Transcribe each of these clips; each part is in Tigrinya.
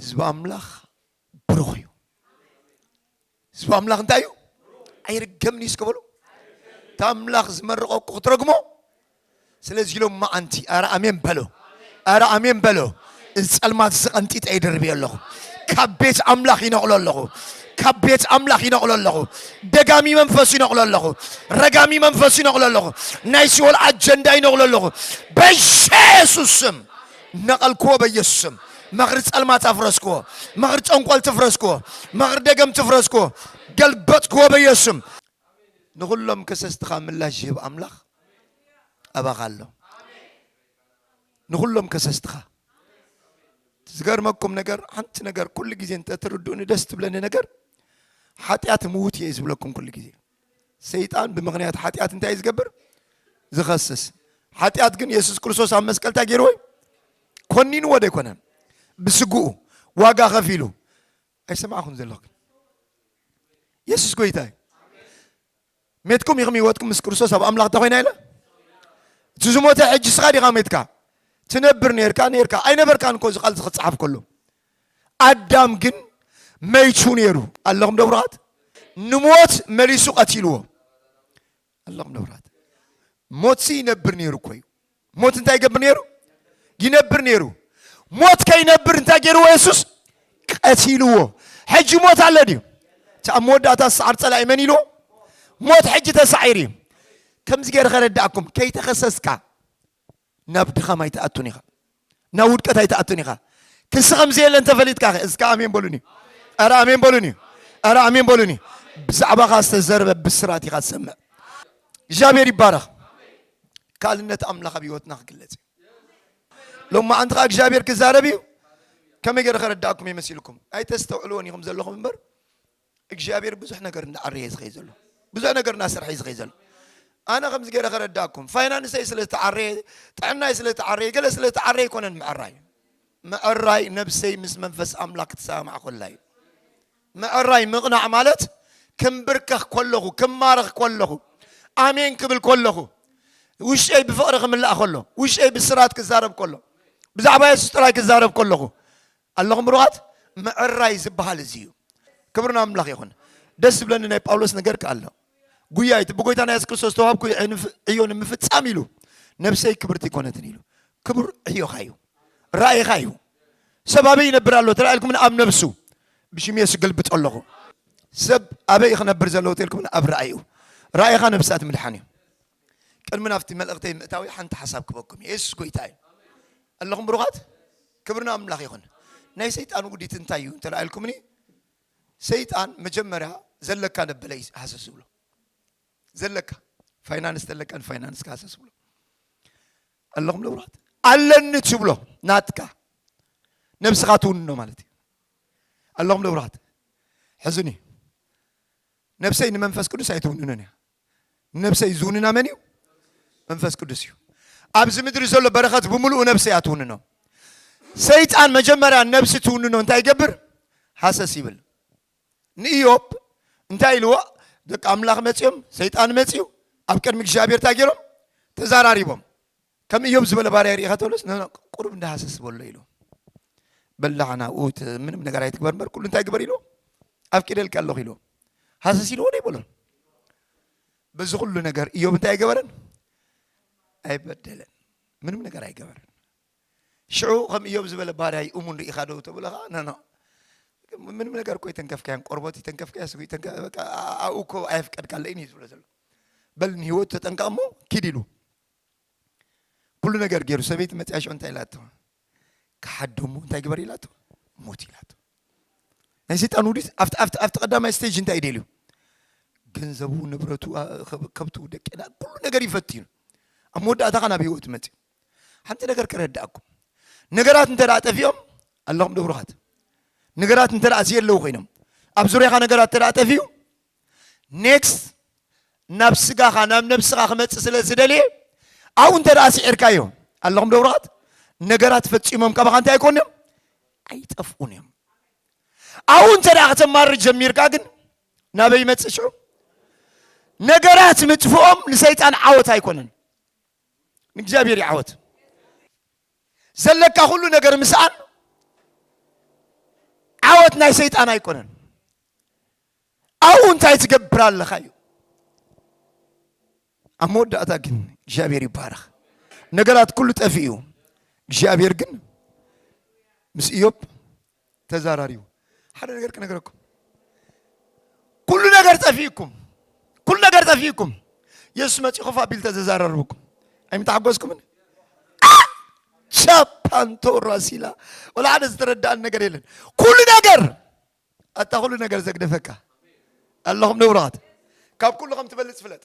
ህዝቢ ኣምላኽ ብሩኽ እዩ ህዝቢ ኣምላኽ እንታይ እዩ ኣይርገምን እዩ እስከበሉ እቲ ኣምላኽ ዝመረቆ እኮ ክትረግሞ ስለዚ ኢሎም መዓንቲ ኣረ ኣሜን በሎ ኣረ ኣሜን በሎ እዚ ጸልማት እዚ ቀንጢጠ ይድርብዮ ኣለኹ ካብ ቤት ኣምላኽ ይነቕሎ ኣለኹ ካብ ቤት ኣምላኽ ይነቕሎ ኣለኹ ደጋሚ መንፈስ ይነቕሎ ኣለኹ ረጋሚ መንፈስ ይነቕሎ ኣለኹ ናይ ሲኦል ኣጀንዳ ይነቕሎ ኣለኹ በየሱስ ስም ነቐልክዎ በየሱስ ስም መኽሪ ጸልማት ኣፍረስክዎ መኽሪ ጨንቆልቲ ፍረስክዎ መኽሪ ደገምቲ ፍረስክዎ ገልበጥክዎ በየሱስ ስም ንኹሎም ከሰስትኻ ምላሽ ዝህብ ኣምላኽ ኣባኻ ኣሎ ንኹሎም ከሰስትኻ ዝገርመኩም ነገር ሓንቲ ነገር ኩሉ ግዜ እንተትርድኡኒ ደስ ትብለኒ ነገር ሓጢኣት ምውት እየ ዝብለኩም ኩሉ ግዜ ሰይጣን ብምክንያት ሓጢኣት እንታይ ዝገብር ዝኸስስ ሓጢኣት ግን የሱስ ክርስቶስ ኣብ መስቀል እንታይ ገይርዎ ኮኒንዎ ዶ ኣይኮነን ብስግኡ ዋጋ ከፊሉ ኣይሰማዕኹም ዘለኹ የሱስ ጎይታ እዩ ሜትኩም ኢኹም ህይወትኩም ምስ ክርስቶስ ኣብ ኣምላኽ እንተኮይና ኢለ እቲ ዝሞተ ሕጂ ስኻ ዲኻ ሜትካ ትነብር ነርካ ነርካ ኣይነበርካን እኮ እዚ ቃል እዚ ክፀሓፍ ከሎ ኣዳም ግን መይቱ ነይሩ ኣለኹም ደብራት ንሞት መሊሱ ቀቲልዎ ኣለኹም ደብራት ሞት ሲ ይነብር ነይሩ እኮ እዩ ሞት እንታይ ይገብር ነይሩ ይነብር ነይሩ ሞት ከይነብር እንታይ ገይርዎ የሱስ ቀቲልዎ ሕጂ ሞት ኣሎ ድዩ እቲ ኣብ መወዳእታ ዝሰዓር ፀላኢ መን ኢልዎ ሞት ሕጂ ተሳዒሩ እዩ ከምዚ ገይረ ከረዳእኩም ከይተኸሰስካ ናብ ድኻም ኣይትኣቱን ኢኻ ናብ ውድቀት ኣይትኣቱን ኢኻ ክሲ ከም ዘየለ እንተፈሊጥካ ኸ እስካ ኣሜን በሉኒ ኣረ ኣሜን በሉኒ ኣረ ኣሜን በሉኒ ብዛዕባኻ ዝተዘርበ ብስራት ኢኻ ትሰምዕ እግዚኣብሔር ይባረኽ ካልነት ኣምላኽ ኣብ ህይወትና ክግለጽ እዩ ሎማ ኣንቲ ከዓ እግዚኣብሔር ክዛረብ እዩ ከመይ ገይረ ከረዳእኩም የመሲልኩም ኣይተስተውዕልዎን ኢኹም ዘለኹም እምበር እግዚኣብሔር ብዙሕ ነገር እንዳዓረየ ዝኸይ ዘሎ ብዙሕ ነገር እናሰርሐ ዝኸይ ዘሎ ኣነ ከምዚ ገይረ ከረዳኩም ፋይናንሰይ ስለ ዝተዓረየ ጥዕናይ ስለ ዝተዓረየ ገለ ስለ ዝተዓረየ ኣይኮነን ምዕራይ ምዕራይ ነብሰይ ምስ መንፈስ ኣምላክ ክትሰማማዕ ኮላ እዩ ምዕራይ ምቕናዕ ማለት ክምብርከኽ ኮለኹ ክማረኽ ኮለኹ ኣሜን ክብል ኮለኹ ውሽጠይ ብፍቕሪ ክምላእ ከሎ ውሽጠይ ብስራት ክዛረብ ከሎ ብዛዕባ የሱስ ጥራይ ክዛረብ ከለኹ ኣለኹም ብሩኻት ምዕራይ ዝብሃል እዚ እዩ ክብሪ ናብ ኣምላኽ ይኹን ደስ ዝብለኒ ናይ ጳውሎስ ነገር ከ ኣሎ ጉያ እቲ ብጎይታና የሱስ ክርስቶስ ዝተዋህብኩ ዕዮ ንምፍጻም ኢሉ ነብሰይ ክብርቲ ኮነትን ኢሉ ክቡር ዕዮኻ እዩ ራእይኻ እዩ ሰብ ኣበይ ይነብር ኣሎ ተላኢልኩም ኣብ ነብሱ ብሽም የሱ ገልብጦ ኣለኹ ሰብ ኣበይ ክነብር ዘለዎ ተልኩም ኣብ ራእዩ ራእይኻ ነብሳት ምድሓን እዩ ቅድሚ ናብቲ መልእኽተይ ምእታዊ ሓንቲ ሓሳብ ክበኩም እዩ የሱስ ጎይታ እዩ ኣለኹም ብሩኻት ክብሪ ናብ ኣምላኽ ይኹን ናይ ሰይጣን ውዲት እንታይ እዩ እንተ ኢልኩምኒ ሰይጣን መጀመርያ ዘለካ ነበለ እዩ ሃሰስ ዝብሎ ዘለካ ፋይናንስ ተለካ ንፋይናንስ ክሃሰስ ዝብሎ ኣለኹም ንብራት ኣለኒ ትብሎ ናትካ ነብስኻ ትውንኖ ማለት እዩ ኣለኹም ንብራት ሕዝኒ ነብሰይ ንመንፈስ ቅዱስ ኣይትውንንን እያ ነብሰይ ዝውንና መን እዩ? መንፈስ ቅዱስ እዩ። ኣብዚ ምድሪ ዘሎ በረኸት ብምሉኡ ነብሲ እያ ትውንኖ። ሰይጣን መጀመርያ ነብሲ ትውንኖ እንታይ ይገብር? ሃሰስ ይብል። ንኢዮብ እንታይ ኢልዎ? ደቂ ኣምላኽ መጺኦም፣ ሰይጣን መጺኡ፣ ኣብ ቅድሚ እግዚኣብሔር እንታይ ገይሮም? ተዛራሪቦም። ከም እዮብ ዝበለ ባርያ ርኢኻ ተብለስ ቁሩብ እንዳ ሃሰስ በሎ ኢሉ በላዕ ናብኡ ምንም ነገር ኣይትግበር እምበር ኩሉ እንታይ ግበር ኢሉ ኣፍቂደልካ ኣለኹ ኢሉ ሃሰስ ኢልዎ ዶ ይበሎን በዚ ኩሉ ነገር እዮብ እንታይ ኣይገበረን ኣይበደለን ምንም ነገር ኣይገበረን ሽዑ ከም እዮብ ዝበለ ባርያ እዩ እሙን ርኢኻ ዶ ተብሎ ከዓ ነኖ ምንም ነገር እኮ የተንከፍካያን ቆርቦት የተንከፍካያ ስጉ የተንከ- በቃ ኣብኡ እኮ ኣየፍቀድካለይን እዩ ዝብሎ ዘሎ በል ንህይወቱ ተጠንቀቕ እሞ ኪድ ኢሉ ኩሉ ነገር ገይሩ ሰበይቲ መፅያ ሽዑ እንታይ ኢላቶ ክሓዶ እሞ እንታይ ግበር ኢላቶ ሞት ኢላቶ ናይ ሰይጣን ውዲት ኣብቲ ኣብቲ ኣብቲ ቀዳማይ ስቴጅ እንታይ ደልዩ ገንዘቡ ንብረቱ ኣ- ከብ- ከብቱ ደቅና ኩሉ ነገር ይፈትዩ ኣብ መወዳእታ ኸ ናብ ህይወት መፅዩ ሓንቲ ነገር ከረዳእኩም ነገራት እንተ ደኣ ጠፊኦም ኣለኹም ዶ ብሩኻት ነገራት እንተ ደኣ ዘየለዉ ኮይኖም ኣብ ዙርያኻ ነገራት እንተ ደኣ ጠፊኡ Next ናብ ስጋኻ ናብ ነብስኻ ክመጽእ ስለ ዝደልየ ኣብኡ እንተ ደኣ ስዒርካዮ ኣለኹም ደብራት ነገራት ፈጺሞም ካባኻ እንታይ ኣይኮኑ እዮም ኣይጠፍኡን እዮም ኣብኡ እንተ ደኣ ከተማርር ጀሚርካ ግን ናበይ ይመጽእ ሽዑ ነገራት ምጥፍኦም ንሰይጣን ዓወት ኣይኮነን ንእግዚኣብሔር እዩ ዓወት ዘለካ ኩሉ ነገር ምስኣን ዓወት ናይ ሰይጣን ኣይኮነን ኣብኡ እንታይ ትገብር ኣለኻ እዩ ኣብ መወዳእታ ግን እግዚኣብሔር ይባረኽ ነገራት ኩሉ ጠፊ እዩ እግዚኣብሔር ግን ምስ እዮብ ተዛራሪ እዩ ሓደ ነገር ክነገረኩም ኩሉ ነገር ጠፊእኩም ኩሉ ነገር ጠፊእኩም የሱስ መፂ ኮፍ ኣቢል ተዘዛረርብኩም ኣይምተሓጎስኩምን ቻፓንቶ ራሲላ ወላ ሓደ ዝተረዳእን ነገር የለን ኩሉ ነገር ኣታ ኩሉ ነገር ዘግደፈካ ኣለኹም ንብራት ካብ ኩሉ ከም ትበልጽ ፍለጥ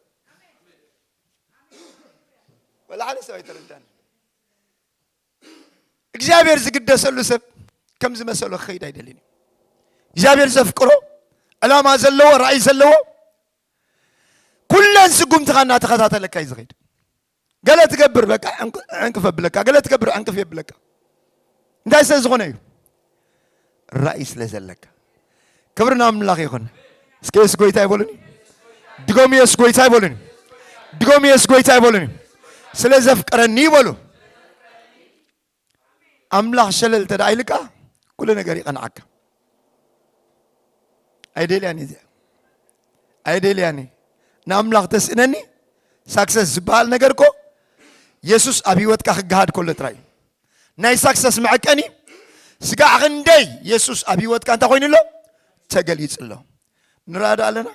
ወላ ሓደ ሰብ ኣይተረዳን እግዚኣብሔር ዝግደሰሉ ሰብ ከም ዝመሰሎ ክኸይድ ኣይደልን እዩ እግዚኣብሔር ዘፍቅሮ ዕላማ ዘለዎ ራእይ ዘለዎ ኩለን ስጉምትኻ እናተኸታተለካ እዩ ዝኸይድ ገለ ትገብር በቃ ዕንቅፍ የብለካ፣ ገለ ትገብር ዕንቅፍ የብለካ። እንታይ ስለ ዝኾነ እዩ? ራእይ ስለ ዘለካ። ክብሪ ናብ ኣምላኽ ይኹን። እስከ የሱስ ጎይታ ይበሉኒ። ድገሙ፣ የሱስ ጎይታ ይበሉኒ። ድገሙ፣ የሱስ ጎይታ ይበሉኒ። ስለ ዘፍቀረኒ ይበሉ። ኣምላኽ ሸለል እንተ ደኣ ኢልካ ኩሉ ነገር ይቐንዓካ። ኣይደልያን እዚኣ ኣይደልያን እዩ ንኣምላኽ ተስእነኒ ሳክሰስ ዝበሃል ነገር እኮ የሱስ ኣብ ህይወትካ ክገሃድ ከሎ ጥራይ እዩ ናይ ሳክሰስ መዐቀኒ ስጋዕ ክንደይ የሱስ ኣብ ህይወትካ እንታይ ኮይኑ ኣሎ ተገሊጹ ኣሎ ንራዳ ኣለና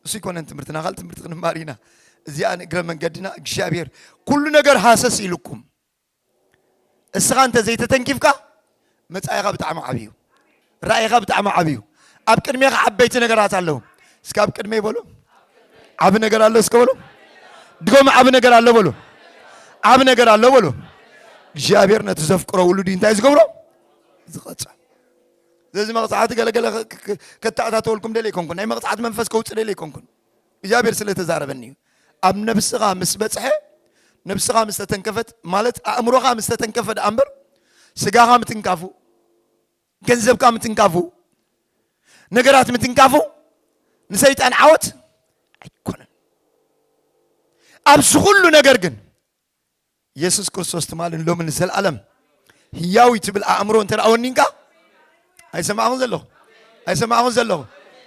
እሱ ይኮነን ትምህርትና ካል ትምህርቲ ክንማር ኢና እዚኣ ንእግረ መንገድና እግዚኣብሔር ኩሉ ነገር ሃሰስ ኢልኩም እስኻ እንተ ዘይተተንኪፍካ መጻኢኻ ብጣዕሚ ዓቢ እዩ። ራእይኻ ብጣዕሚ ዓቢ እዩ። ኣብ ቅድሜኻ ዓበይቲ ነገራት ኣለዉ። እስከ ኣብ ቅድመይ በሉ ዓቢ ነገር ኣሎ። እስከ በሉ ድጎም ዓቢ ነገር ኣሎ በሉ ዓቢ ነገር ኣሎ በሉ። እግዚኣብሔር ነቲ ዘፍቅሮ ውሉድ እንታይ ዝገብሮ ዝቐጽ ስለዚ መቕጻዕቲ ገለገለ ከተኣታተወልኩም ደለ ይኮንኩን ናይ መቕጻዕቲ መንፈስ ከውፅ ደለ ይኮንኩን እግዚኣብሔር ስለ ተዛረበኒ እዩ ኣብ ነብስኻ ምስ በጽሐ ነብስኻ ምስ ተተንከፈት ማለት ኣእምሮኻ ምስ ተተንከፈ ደኣ እምበር ስጋኻ ምትንካፉ ገንዘብካ ምትንካፉ ነገራት ምትንካፉ ንሰይጣን ዓወት ኣይኮነን ኣብዚ ኩሉ ነገር ግን የሱስ ክርስቶስ ትማልን ሎምን ንዘለኣለም ህያው እዩ ትብል ኣእምሮ እንተ ወኒንካ ኣይሰማዕኹን ዘለኹ ኣይሰማዕኹን ዘለኹ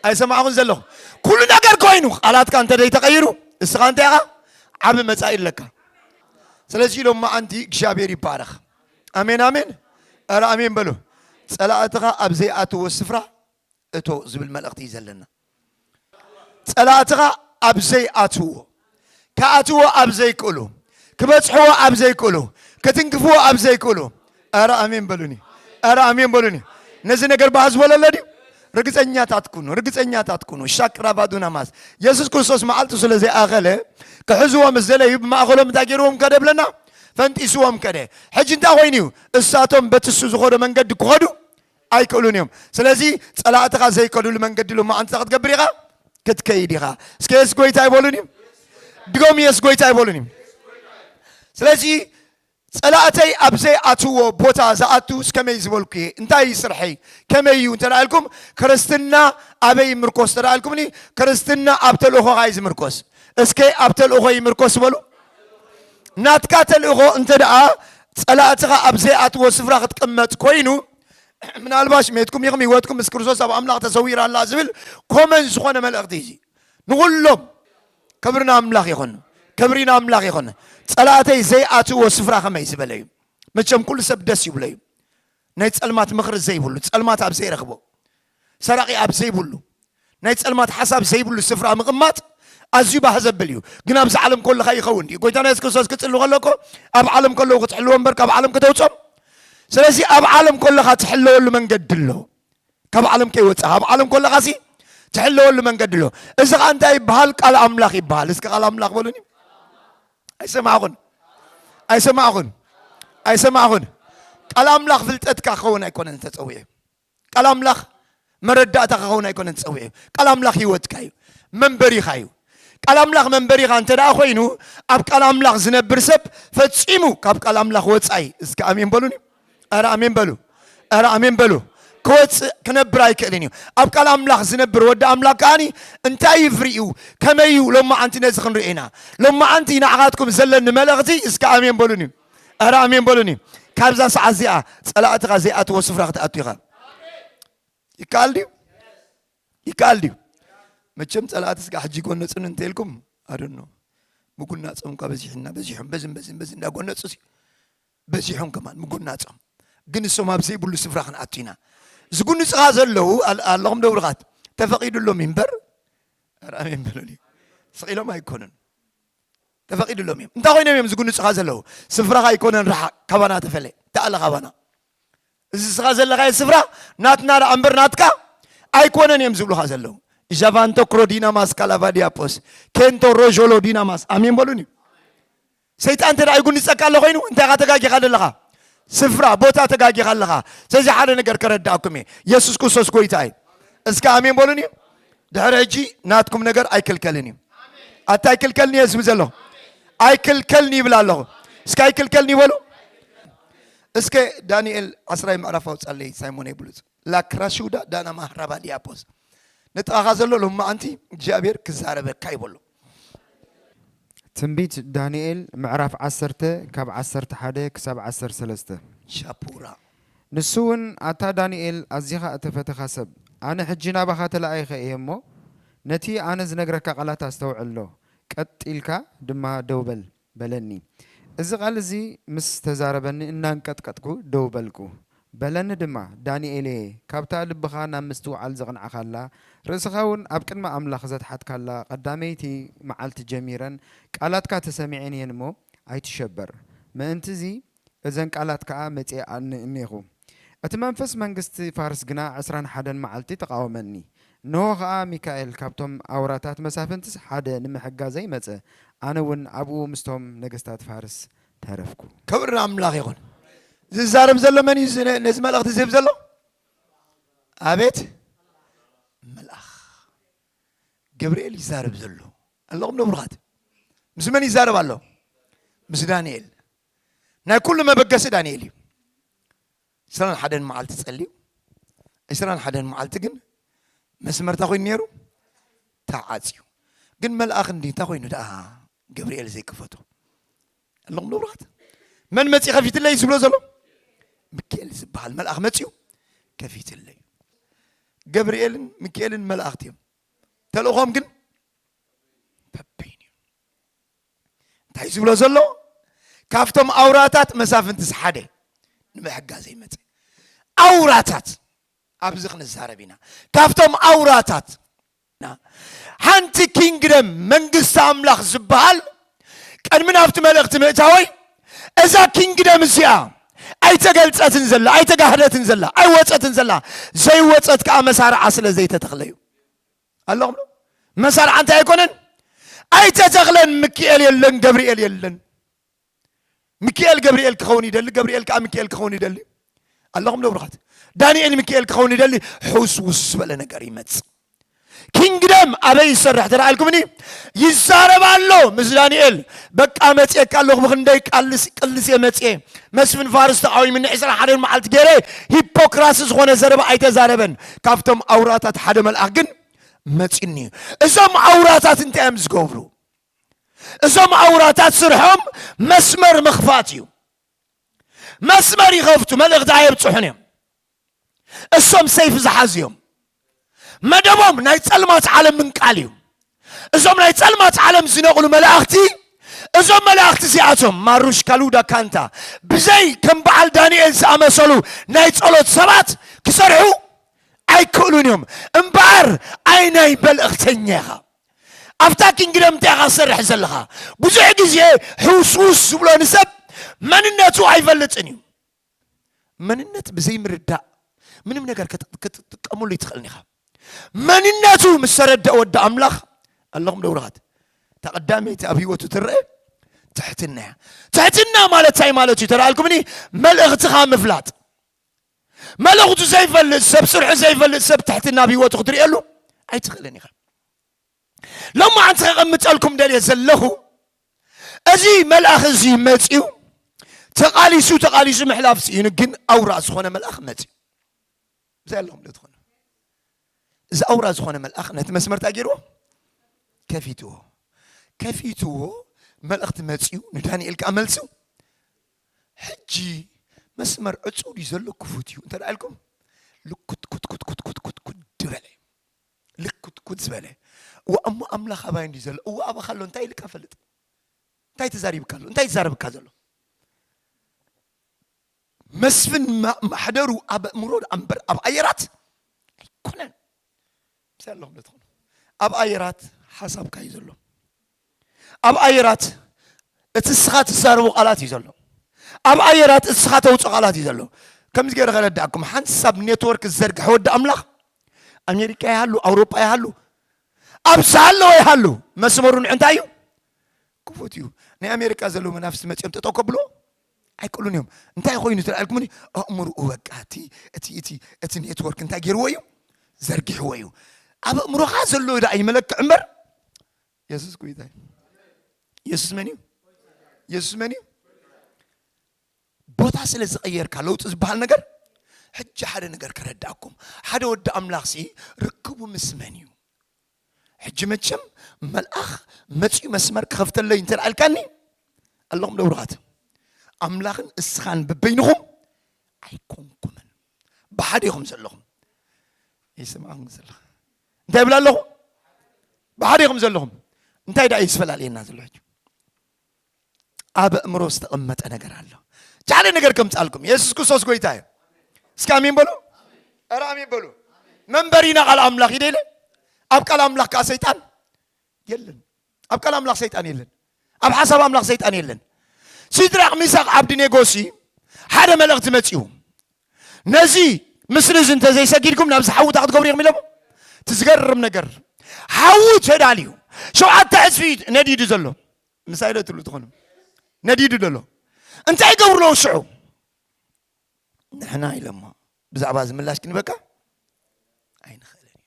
ኣይሰማዕኹን ዘለኹ ኩሉ ነገር ኮይኑ ቃላትካ እንተ ተቐይሩ እስኻ እንታይ ኢኻ ዓብ መጻኢ ኣለካ ስለዚ ኢሎም መዓንቲ እግዚኣብሔር ይባረኽ ኣሜን ኣሜን ኧረ ኣሜን በሉ ጸላእትኻ ኣብ ዘይኣትዎ ስፍራ እቶ ዝብል መልእኽቲ እዩ ዘለና። ጸላእትኻ ኣብ ዘይኣትውዎ፣ ክኣትዎ ኣብ ዘይክእሉ፣ ክበጽሕዎ ኣብ ዘይክእሉ፣ ክትንክፍዎ ኣብ ዘይክእሉ። ኧረ ኣሜን በሉኒ፣ ኧረ ኣሜን በሉኒ። ነዚ ነገር ባህ ዝበለለ ድዩ? ርግፀኛታት ኩኑ፣ ርግፀኛታት ኩኑ። ሻቅራባዱና ማስ የሱስ ክርስቶስ መዓልቱ ስለ ዘይኣኸለ ክሕዝዎ ምስ ዘለዩ ብማእኸሎም እንታይ ገይርዎም ከደ ብለና ፈንጢስዎም ከደ። ሕጂ እንታይ ኮይኑ እዩ? እሳቶም በትሱ ዝኸዶ መንገዲ ክኸዱ ኣይክእሉን እዮም ስለዚ ጸላእትኻ ዘይከዱሉ መንገዲ ሎማዓንቲ እንታይ ክትገብር ኢኻ ክትከይድ ኢኻ እስከ የሱስ ጎይታ ይበሉን እዩ ድገሙ የሱስ ጎይታ ይበሉን እዩ ስለዚ ጸላእተይ ኣብ ዘይኣትዎ ቦታ ዝኣቱ እስከመይ ዝበልኩ እየ እንታይ እዩ ስርሐይ ከመይ እዩ እንተ ኢልኩም ክርስትና ኣበይ ይምርኮስ እንተ ኢልኩምኒ ክርስትና ኣብ ተልእኾኻ እዩ ዝምርኮስ እስከ ኣብ ተልእኾ ይምርኮስ በሉ ናትካ ተልእኾ እንተድኣ ጸላእትኻ ኣብ ዘይኣትዎ ስፍራ ክትቅመጥ ኮይኑ፣ ምናልባሽ ሜትኩም ኢኹም ህይወትኩም ምስ ክርስቶስ ኣብ ኣምላኽ ተሰዊራ ኣላ ዝብል ኮመን ዝኾነ መልእኽቲ እዩ። ንኹሎም ክብሪ ንኣምላኽ ይኹን፣ ክብሪ ንኣምላኽ ይኹን። ጸላእተይ ዘይኣትዎ ስፍራ ከመይ ዝበለ እዩ? መቸም ኩሉ ሰብ ደስ ይብሎ እዩ ናይ ጸልማት ምኽሪ ዘይብሉ ጸልማት ኣብ ዘይረኽቦ ሰራቒ ኣብ ዘይብሉ፣ ናይ ጸልማት ሓሳብ ዘይብሉ ስፍራ ምቕማጥ ኣዝዩ ባህ ዘብል እዩ። ግን ኣብዚ ዓለም ኮለኻ ይኸውን ድዩ? ጎይታና የሱስ ክርስቶስ ክጽሊ ከሎ እኮ ኣብ ዓለም ከለዉ ክትሕልዎ እምበር ካብ ዓለም ከተውጾም። ስለዚ ኣብ ዓለም ኮለኻ ትሕለወሉ መንገዲ ኣሎ። ካብ ዓለም ከይወጻኻ ኣብ ዓለም ኮለኻ ሲ ትሕለወሉ መንገዲ ኣሎ። እዚ ኸኣ እንታይ ይበሃል? ቃል ኣምላኽ ይበሃል። እስኪ ቃል ኣምላኽ በሉኒ። ኣይሰማዕኹን ኣይሰማዕኹን ኣይሰማዕኹን። ቃል ኣምላኽ ፍልጠትካ ክኸውን ኣይኮነን ተጸዊዑ ቃል ኣምላኽ መረዳእታኻ ኸውን ኣይኮነን ጸዊዑ። ቃል ኣምላኽ ህይወትካ እዩ፣ መንበሪኻ እዩ። ቃል ኣምላኽ መንበሪኻ እንተ ደኣ ኮይኑ ኣብ ቃል ኣምላኽ ዝነብር ሰብ ፈጺሙ ካብ ቃል ኣምላኽ ወጻኢ እስከ ኣሜን በሉኒ። ኣረ ኣሜን በሉ፣ ኣረ ኣሜን በሉ። ክወፅእ ክነብር ኣይክእልን እዩ ኣብ ቃል ኣምላኽ ዝነብር ወዲ ኣምላኽ ከዓኒ እንታይ እዩ ፍሪኡ ከመይ እዩ ሎማዓንቲ ነዚ ክንርኢ ኢና ሎማዓንቲ ንዓኻትኩም ዘለኒ መልእኽቲ እስከ ኣሜን በሉኒ ኣረ ኣሜን በሉኒ ካብዛ ሰዓት እዚኣ ፀላእትኻ ዘይኣትዎ ስፍራ ክትኣቱ ኢኻ ይከኣል ድዩ ይከኣል ድዩ መቸም ፀላእቲ ስጋ ሕጂ ጎነፅን እንተልኩም ኣደኖ ምጉናፆም እኳ በዚሕና በዚሖም በዝን በዝን በዝን እንዳጎነፁ ሲ በዚሖም ከማን ምጉናፆም ግን እሶም ኣብ ዘይብሉ ስፍራ ክንኣቱ ኢና ዝጉንፅኻ ዘለዉ ኣል- ኣለኹም ደብርኻት ተፈቒዱሎም እዩ እምበር ኣረ ኣሜን በሉኒ ስቒሎም ኣይኮኑን ተፈቂድሎም እዮም እንታይ ኮይኖም እዮም ዝጉንጹኻ ዘለዉ ስፍራኻ ኣይኮነን ርሓቅ ካባና ተፈለ ተኣለ ካባና እዚ ስኻ ዘለኻዮ ስፍራ ናትና ደኣ እምበር ናትካ ኣይኮነን እዮም ዝብሉኻ ዘለዉ ዣቫንቶ ክሮዲናማስ ካላቫዲያፖስ ኬንቶ ሮዦሎ ዲናማስ ኣሜን በሉን እዩ ሰይጣን እንተ ይጉንፀካ ኣሎ ኮይኑ እንታይ ኻ ተጋጊኻ ዘለኻ ስፍራ ቦታ ተጋጊኻ ኣለኻ ስለዚ ሓደ ነገር ከረዳእኩም እየ የሱስ ክርስቶስ ጎይታ እዩ እስከ ኣሜን በሉን እዩ ድሕሪ ሕጂ ናትኩም ነገር ኣይክልከልን እዩ ኣታ ኣይክልከልን እየ ዝብል ዘለኹ ኣይክልከልን ይብል ኣለኹ እስከ ኣይክልከልን ይበሉ እስከ ዳንኤል ዓስራይ ምዕራፍ ኣውፃለይ ሳይሞን ብሉፅ ላክራሽውዳ ዳና ማህራባ ዲያፖስ ንጥቓኻ ዘሎ ሎማዓንቲ እግዚኣብሔር ክዛረበካ ይበሎ ትንቢት ዳንኤል ምዕራፍ ዓሰርተ ካብ ዓሰርተ ሓደ ክሳብ ዓሰርተ ሰለስተ። ሻፑራ። ንሱውን ኣታ ዳንኤል ኣዚኻ እተፈተኻ ሰብ፣ ኣነ ሕጂ ናባኻ ተላኢኸ እየ እሞ፣ ነቲ ኣነ ዝነግረካ ቓላት ኣስተውዕሎ፣ ቀጥ ኢልካ ድማ ደው በል። በለኒ። እዚ ቓል እዚ ምስ ተዛረበኒ እናንቀጥቀጥኩ ደው በልኩ። በለኒ ድማ፣ ዳንኤልየ፣ ካብታ ልብኻ ናብ ምስትውዓል ዘቕናዕካላ፣ ርእስኻውን ኣብ ቅድሚ ኣምላኽ ዘትሓትካላ ቐዳመይቲ መዓልቲ ጀሚረን ቃላትካ ተሰሚዐን እየን እሞ፣ ኣይትሸበር። ምእንትዚ እዘን ቃላት ከኣ መጺኣኒ እኔኹ። እቲ መንፈስ መንግስቲ ፋርስ ግና ዕስራን ሓደን መዓልቲ ተቓወመኒ። እንሆ ኸኣ ሚካኤል ካብቶም ኣውራታት መሳፍንትስ ሓደ ንምሕጋዘይ መጸ፣ ኣነውን ኣብኡ ምስቶም ነገስታት ፋርስ ተረፍኩ። ክብሪ ንኣምላኽ ይኹን። ዝዛረብ ዘሎ መን እዩ ነዚ መልእኽቲ ዝህብ ዘሎ? ኣቤት መልኣኽ ገብርኤል እዩ ዝዛረብ ዘሎ። ኣለኹም ዶ ብሩኻት? ምስ መን ይዛረብ ኣሎ? ምስ ዳንኤል። ናይ ኩሉ መበገሲ ዳንኤል እዩ ዕስራን ሓደን መዓልቲ ጸልዩ ዕስራን ሓደን መዓልቲ ግን መስመር እንታይ ኮይኑ ነይሩ ተዓፅዩ ግን መልኣኽ እንዲ እንታይ ኮይኑ ደኣ ገብርኤል ዘይከፈቶ ኣለኹም ንብራት መን መፂ ከፊትለይ ዝብሎ ዘሎ ሚካኤል ዝበሃል መልኣኽ መፅዩ ከፊትለይ ገብርኤልን ሚካኤልን መላእኽቲ እዮም ተልእኾም ግን እንታይ ዝብሎ ዘሎ ካብቶም ኣውራታት መሳፍንትስ ሓደ ንምሕጋዘ ይመፀ ኣውራታት ኣብዚ ክንዛረብ ኢና ካብቶም ኣውራታት ሓንቲ ኪንግደም መንግስቲ ኣምላኽ ዝበሃል ቅድሚ ናብቲ መልእኽቲ ምእታወይ እዛ ኪንግደም እዚኣ ኣይተገልፀትን ዘላ ኣይተጋህደትን ዘላ ኣይወፀትን ዘላ ዘይወፀት ከዓ መሳርዓ ስለ ዘይተተኽለ እዩ ኣለኹም ዶ መሳርዓ እንታይ ኣይኮነን ኣይተ ተኽለን ምክኤል የለን ገብርኤል የለን ምክኤል ገብርኤል ክኸውን ይደሊ ገብርኤል ከዓ ምክኤል ክኸውን ይደሊ ኣለኹም ዶ ብሩኻት ዳንኤል ምክኤል ክኸውን ይደሊ ሕውስውስ ዝበለ ነገር ይመፅእ ኪንግደም ኣበይ ይሰርሕ ተረኣልኩምኒ ይዛረብ ኣሎ ምስ ዳንኤል በቃ መፅኤካ ኣለኹ ብክንደይ ቃልስ ቅልስ እየ መፅኤ መስፍን ፋርስ ተቃዊምኒ ዕስራ ሓደን መዓልቲ ገይረ ሂፖክራሲ ዝኾነ ዘረባ ኣይተዛረበን ካብቶም ኣውራታት ሓደ መልኣኽ ግን መፂኒ እዩ እዞም ኣውራታት እንታይ እዮም ዝገብሩ እዞም ኣውራታት ስርሖም መስመር ምኽፋት እዩ መስመር ይኸፍቱ መልእኽቲ ኣየብፅሑን እዮም እሶም ሰይፍ ዝሓዙ እዮም መደቦም ናይ ፀልማት ዓለም ምንቃል እዩ እዞም ናይ ጸልማት ዓለም ዝነቕሉ መላእኽቲ፣ እዞም መላእኽቲ እዚኣቶም ማሩሽ ካሉዳ ካንታ ብዘይ ከም በዓል ዳንኤል ዝኣመሰሉ ናይ ጸሎት ሰባት ክሰርሑ ኣይክእሉን እዮም። እምበኣር ኣይ ናይ መልእኽተኛ ኢኻ፣ ኣብታ ኪንግደም እንታይ ኢኻ ዝሰርሕ ዘለኻ? ብዙሕ ግዜ ሕውስውስ ዝብሎ ንሰብ መንነቱ ኣይፈልጥን እዩ። መንነት ብዘይምርዳእ ምንም ነገር ክትጥቀሙሉ ይትኽእልን ኢኻ መንነቱ ምስ ተረድአ ወዲ ኣምላኽ ኣለኹም ደውረኻት ተቐዳመይቲ ኣብ ህይወቱ ትረአ ትሕትና እያ ትሕትና ማለት እንታይ ማለት እዩ ተረኣልኩምኒ መልእኽትኻ ምፍላጥ መልእኽቱ ዘይፈልጥ ሰብ ስርሑ ዘይፈልጥ ሰብ ትሕትና ኣብ ህይወቱ ክትርእየሉ ኣይትኽእልን ኢኻ ሎማዓንቲ ከቐምጠልኩም ደልየ ዘለኹ እዚ መልኣኽ እዚ መፂኡ ተቓሊሱ ተቓሊሱ ምሕላፍ ስኢኑ ግን ኣውራ ዝኾነ መልኣኽ መፂኡ ብዛይ ኣለኹም ዶ ትኾኑ እዚ ኣውራ ዝኾነ መልኣኽ ነቲ መስመር እንታይ ገይርዎ ከፊትዎ ከፊትዎ መልእኽቲ መፂኡ ንዳንኤል ከዓ መልሱ ሕጂ መስመር ዕፁው ድዩ ዘሎ ክፉት እዩ እንተ ኢልኩም ልኩትኩትኩትኩትኩትኩት ድበለ ልኩትኩት ዝበለ እዋእ እሞ ኣምላኽ ኣባይ እንዲዩ ዘሎ እዋእ ኣባኻ ኣሎ እንታይ ኢልካ ፈልጥ እንታይ ተዛሪብካ ኣሎ እንታይ ይዛረብካ ዘሎ መስፍን ማሕደሩ ኣብ እምሮ ኣንበር ኣብ ኣየራት ኣይኮነን ምስ ኣለኹም ትኾኑ ኣብ ኣየራት ሓሳብካ እዩ ዘሎ ኣብ ኣየራት እቲ እስኻ ትዛረቡ ቃላት እዩ ዘሎ ኣብ ኣየራት እስኻ ተውፅኦ ቃላት እዩ ዘሎ ከምዚ ገይረ ከረዳእኩም ሓንሳብ ኔትወርክ ዝዘርግሐ ወዲ ኣምላኽ ኣሜሪካ ይሃሉ ኣውሮጳ ይሃሉ ኣብ ዝሃለወ ይሃሉ መስመሩ ንዕ እንታይ እዩ ክፉት እዩ ናይ ኣሜሪካ ዘለዉ መናፍስቲ መፅኦም ጠጠው ከብሎ ኣይክእሉን እዮም እንታይ ኮይኑ ትልዕልኩምኒ ኣእምርኡ በቃ እቲ እቲ እቲ እቲ ኔትወርክ እንታይ ገይርዎ እዩ ዘርጊሕዎ እዩ ኣብ ኣእምሮኻ ዘሎ ዳኣ ይመለክዕ እምበር የሱስ ጎይታ እዩ የሱስ መን እዩ የሱስ መን እዩ ቦታ ስለ ዝቐየርካ ለውጢ ዝበሃል ነገር ሕጂ ሓደ ነገር ከረዳእኩም ሓደ ወዲ ኣምላኽ ሲ ርክቡ ምስ መን እዩ ሕጂ መቸም መልኣኽ መፅኡ መስመር ክኸፍተለይ እንተ ልዓልካኒ ኣለኹም ደብሩኻት ኣምላኽን እስኻን ብበይንኹም ኣይኮንኩምን ብሓደ ኢኹም ዘለኹም ይስምዓኹም ዘለኹ እንታይ ይብላ ኣለኹ ብሓደ ኢኹም ዘለኹም እንታይ ደኣ እዩ ዝፈላልየና ዘሎ ሕጂ ኣብ ኣእምሮ ዝተቐመጠ ነገር ኣሎ ቻለ ነገር ከምፃልኩም የሱስ ክርስቶስ ጎይታ እዩ እስኪ ኣሜን በሉ ኧረ ኣሜን በሉ መንበሪና ቃል ኣምላኽ ይደለ ኣብ ቃል ኣምላኽ ከዓ ሰይጣን የለን ኣብ ቃል ኣምላኽ ሰይጣን የለን ኣብ ሓሳብ ኣምላኽ ሰይጣን የለን ሲድራቅ ሚሳቅ ዓብድኔጎ ሲ ሓደ መልእኽቲ መጺኡ ነዚ ምስሊ እዚ እንተዘይሰጊድኩም ናብዚ ሓዊ እታ ክትገብሩ ኢኹም ኢሎሞ እቲ ዝገርም ነገር ሓዊ ተዳልዩ ሸውዓተ ዕፅፊ ነዲዱ ዘሎ ምሳይ ዶ ትብሉ ትኾኑ ነዲዱ ዘሎ እንታይ ይገብሩ ኣለዉ ሽዑ ንሕና ኢሎሞ ብዛዕባ እዚ ምላሽ ክንበካ ኣይንኽእልን ኢና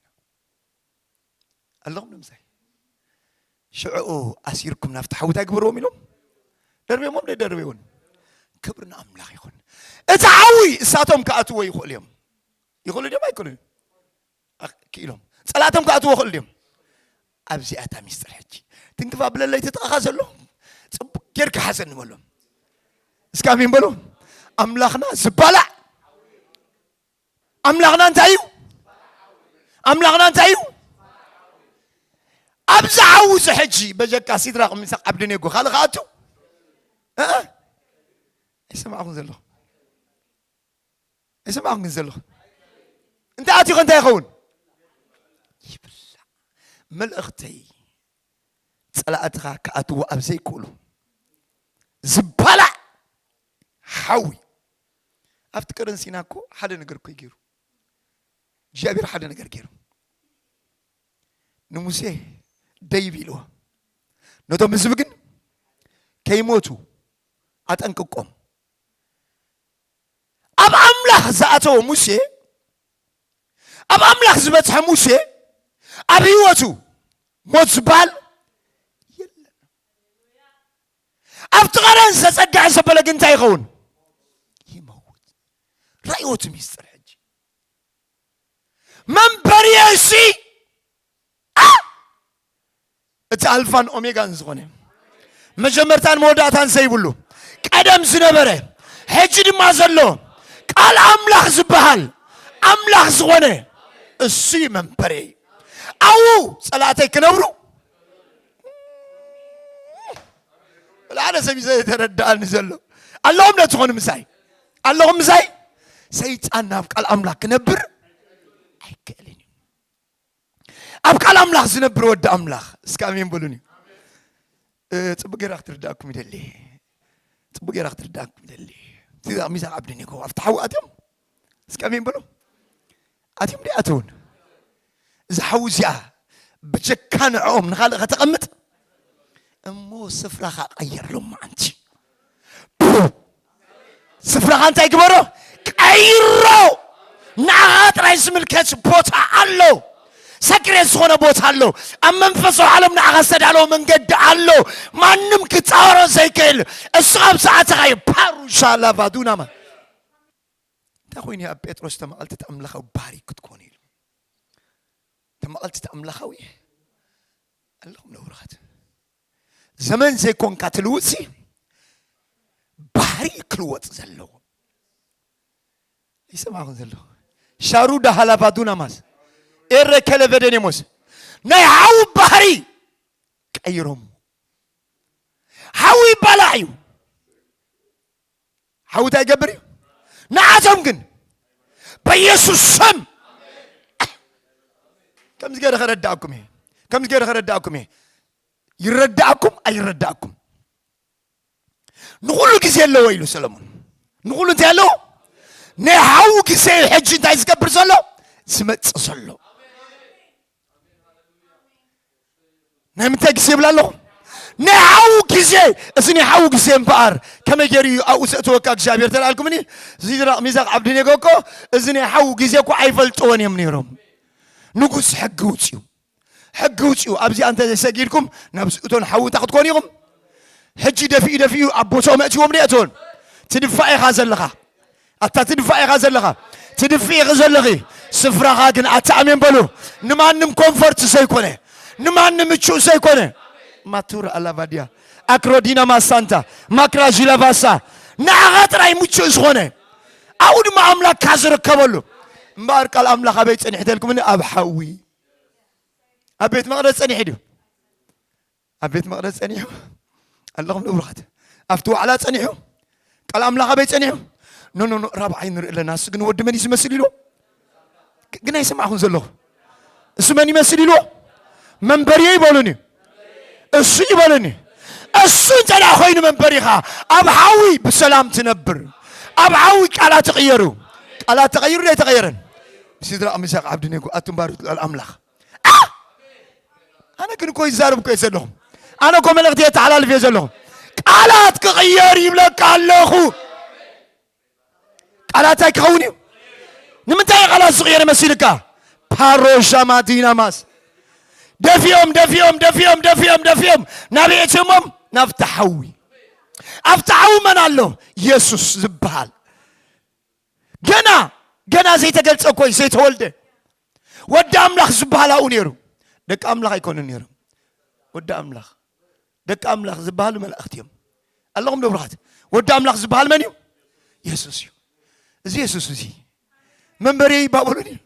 ኣለኹም ንምሳይ ሽዕኡ ኣሲርኩም ናብቲ ሓዊ እንታይ ግበርዎም ኢሎም ደርብዮሞም ደይደርብዮውን ክብሪ ንኣምላኽ ይኹን እቲ ሓዊ እሳቶም ክኣትዎ ይኽእሉ እዮም ይኽእሉ ድዮም ኣይክእሉ ክኢሎም ፀላእቶም ክኣትዎ ይኽእሉ ድዮም ኣብዚኣ እታ ሚስጥር ሕጂ ትንክፍ ኣብለለይ ትጥቓኻ ዘሎ ፅቡቅ ጌርካ ሓዘኒ በሎም እስካ ኣሜን በሉ ኣምላኽና ዝባላዕ ኣምላኽና እንታይ እዩ ኣምላኽና እንታይ እዩ ኣብዚ ዓው እዚ ሕጂ በጀካ ሲድራቅ ሚሳቅ ዓብድኔጎ ካልእ ከኣቱ ኣይሰማዕኹም ዘለኹ ኣይሰማዕኹም ግን ዘለኹ እንታይ ኣትዩ ከ እንታይ ይኸውን ይብላዕ መልእኽተይ ጸላእትኻ ክኣትዎ ኣብ ዘይክእሉ ዝባላዕ ሓዊ ኣብቲ ቀደን ሲና እኮ ሓደ ነገር እኮ ገይሩ እግዚኣብሔር ሓደ ነገር ገይሩ ንሙሴ ደይብ ኢልዎ ነቶም ህዝቢ ግን ከይሞቱ ኣጠንቅቆም ኣብ ኣምላኽ ዝኣተወ ሙሴ ኣብ ኣምላኽ ዝበፅሐ ሙሴ ኣብ ህይወቱ ሞት ዝበሃል የለን ኣብቲ ቐረን ዝተጸግዐ ዘበለ ግን እንታይ ይኸውን? ይመውት። ራእዮ እቲ ሚስጥር ሕጂ መንበርየ እሲ እቲ ኣልፋን ኦሜጋን ዝኾነ መጀመርታን መወዳእታን ዘይብሉ ቀደም ዝነበረ ሕጂ ድማ ዘሎ ቃል ኣምላኽ ዝበሃል ኣምላኽ ዝኾነ እሱይ መንበርየ ኣብኡ ጸላእተይ ክነብሩ ሓደ ሰብ እዩ ዘይተረዳእኒ ዘሎ ኣለኹም ዶ ትኾኑ ምሳይ ኣለኹም ምሳይ ሰይጣን ናብ ቃል ኣምላኽ ክነብር ኣይክእልን እዩ ኣብ ቃል ኣምላኽ ዝነብር ወዲ ኣምላኽ እስከ ኣሜን በሉን እዩ ፅቡቅ ጌራ ክትርዳእኩም ይደሊ ፅቡቅ ጌራ ክትርዳእኩም ይደሊ ሚዛን ዓብድን ይኮ ኣብቲ ሓዊ ኣትዮም እስከሚን ብሉ ኣትም ዲ ኣትውን እዛ ሓዊ እዚኣ ብጀካ ንዕኦም ንካልእ ከተቐምጥ እሞ ስፍራኻ ቀይርሎም ማዓንቲ ስፍራኻ እንታይ ግበሮ ቀይሮ ንዓኻ ጥራይ ዝምልከት ቦታ ኣሎ ሰክሬት ዝኾነ ቦታ ኣሎ ኣብ መንፈሳዊ ዓለም ንዓኻ ዝተዳለወ መንገዲ ኣሎ ማንም ክፃወሮ ዘይክእል እሱ ኣብ ሰዓትኻ እዩ ፓሩሻ ላቫዱናማ እንታይ ኮይኑ ኣብ ጴጥሮስ ተመዓልቲ እቲ ኣምላኻዊ ባህሪ ክትኮኑ ኢሉ ተመዓልቲ እቲ ኣምላኻዊ ኣለኹም ነውርኻት ዘመን ዘይኮንካ ትልውጥሲ ባህሪ ክልወጥ ዘለዎ ይሰማኹን ዘለዎ ሻሩ ዳሃላቫዱና ማስ ኤረ ከለቨደኔሞስ ናይ ሓዊ ባህሪ ቀይሮም ሓዊ ይባላዕ እዩ ሓዊ እንታይ ይገብር እዩ ንዓቶም ግን በኢየሱስ ስም ከምዚ ገይረ ከረዳእኩም እየ ከምዚ ገይረ ከረዳእኩም እየ ይረዳእኩም ኣይረዳእኩም ንኩሉ ግዜ ኣለዎ ኢሉ ሰለሙን ንኩሉ እንታይ ኣለዎ ናይ ሓዊ ግዜ እዩ ሕጂ እንታይ ዝገብር ዘሎ ዝመፅእ ዘሎ ናይ ምንታይ ግዜ ይብል ኣለኹ ናይ ሓዉ ግዜ እዚ ናይ ሓዉ ግዜ እምበኣር ከመይ ገይሩ እዩ ኣብኡ ዘእተወካ እግዚኣብሔር ተላልኩምኒ ሲድራቅ ሚዛቅ ዓብድኔጎ እኮ እዚ ናይ ሓዉ ግዜ እኮ ኣይፈልጥዎን እዮም ነይሮም ንጉስ ሕጊ ውፅኡ ሕጊ ውፅኡ ኣብዚኣ እንተ ዘይሰጊድኩም ናብ ዝእቶን ሓዉ እንታይ ክትኮኑ ኢኹም ሕጂ ደፊኡ ደፊኡ ኣብ ቦትኦም ኣእትዎም ደየእትዎን ትድፋእ ኢኻ ዘለኻ ኣታ ትድፋእ ኢኻ ዘለኻ ትድፍኢ ኢኺ ዘለኺ ስፍራኻ ግን ኣታ ኣሜን በሉ ንማንም ኮንፈርት ዘይኮነ ንማንም ምቹእ ዘይኮነ ማቱራ ኣላቫድያ ኣክሮዲና ማሳንታ ማክራዥ ለቫሳ ንዓኻ ጥራይ ምቹእ ዝኾነ ኣብኡ ድማ ኣምላክካ ዝርከበሉ እምበኣር ቃል ኣምላኽ ኣበይ ጸኒሕተልኩምኒ ኣብ ሓዊ ኣብ ቤት መቕደስ ጸኒሑ ድዩ ኣብ ቤት መቕደስ ጸኒሑ ኣለኹም ንብሩኻት ኣብቲ ዋዕላ ጸኒሑ ቃል ኣምላኽ ኣበይ ጸኒሑ ኖኖ ራብዓይ ንርኢ ኣለና እሱ ግን ወዲ መን እዩ ዝመስል ኢሉ ግን ኣይሰማዕኹን ዘለኹ እሱ መን ይመስል ኢሉ መንበርዮ ይበሉን እዩ እሱ ይበሉን እዩ እሱ እንተ ኮይኑ መንበሪኻ ኣብ ሓዊ ብሰላም ትነብር ኣብ ሓዊ ቃላት ተቐየሩ ቃላት ተቐይሩ ዘይተቐየረን ስድራ ምሳቅ ዓብዲ ኔጎ ኣቱም ባሮት ልዑል ኣምላኽ ኣነ ግን እኮ ይዛረብ እኮ ዘለኹ ኣነ እኮ መልእኽቲ የተሓላልፍ እየ ዘለኹ ቃላት ክቕየር ይብለካ ኣለኹ ቃላት እንታይ ክኸውን እዩ ንምንታይ ቃላት ዝቕየር መሲልካ ፓሮሻ ማዲናማስ ደፊኦም ደፊኦም ደፊኦም ደፊኦም ደፊኦም ናበይ እትዮሞም ናብቲ ሓዊ ኣብቲ ሓዊ መን ኣሎ የሱስ ዝበሃል ገና ገና ዘይተገልጸ እኮ እዩ ዘይተወልደ ወዲ ኣምላኽ ዝበሃል ኣብኡ ነይሩ ደቂ ኣምላኽ ኣይኮኑ ነይሮም ወዲ ኣምላኽ ደቂ ኣምላኽ ዝበሃሉ መላእኽቲ እዮም ኣለኹም ንብሩኻት ወዲ ኣምላኽ ዝበሃል መን እዩ የሱስ እዩ እዚ የሱስ እዚ መንበሪ ባቡሉን እዩ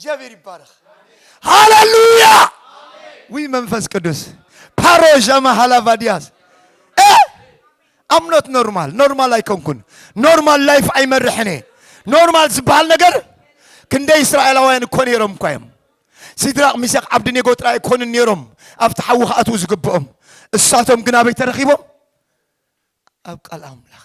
እግዚኣብሔር ይባረክ ሃለሉያ ውይ መንፈስ ቅዱስ ፓሮዣማ ሃላቫዲያስ ኣምኖት ኖርማል ኖርማል ኣይኮንኩን ኖርማል ላይፍ ኣይመርሕን እየ ኖርማል ዝበሃል ነገር ክንደይ እስራኤላውያን እኮ ነይሮም እኳ እዮም ሲድራቅ ሚሳቅ ዓብድኔጎ ጥራይ ኣይኮኑን ነይሮም ኣብቲ ሓዊ ክኣትዉ ዝግብኦም እሳቶም ግን ኣበይ ተረኪቦም ኣብ ቃል ኣምላኽ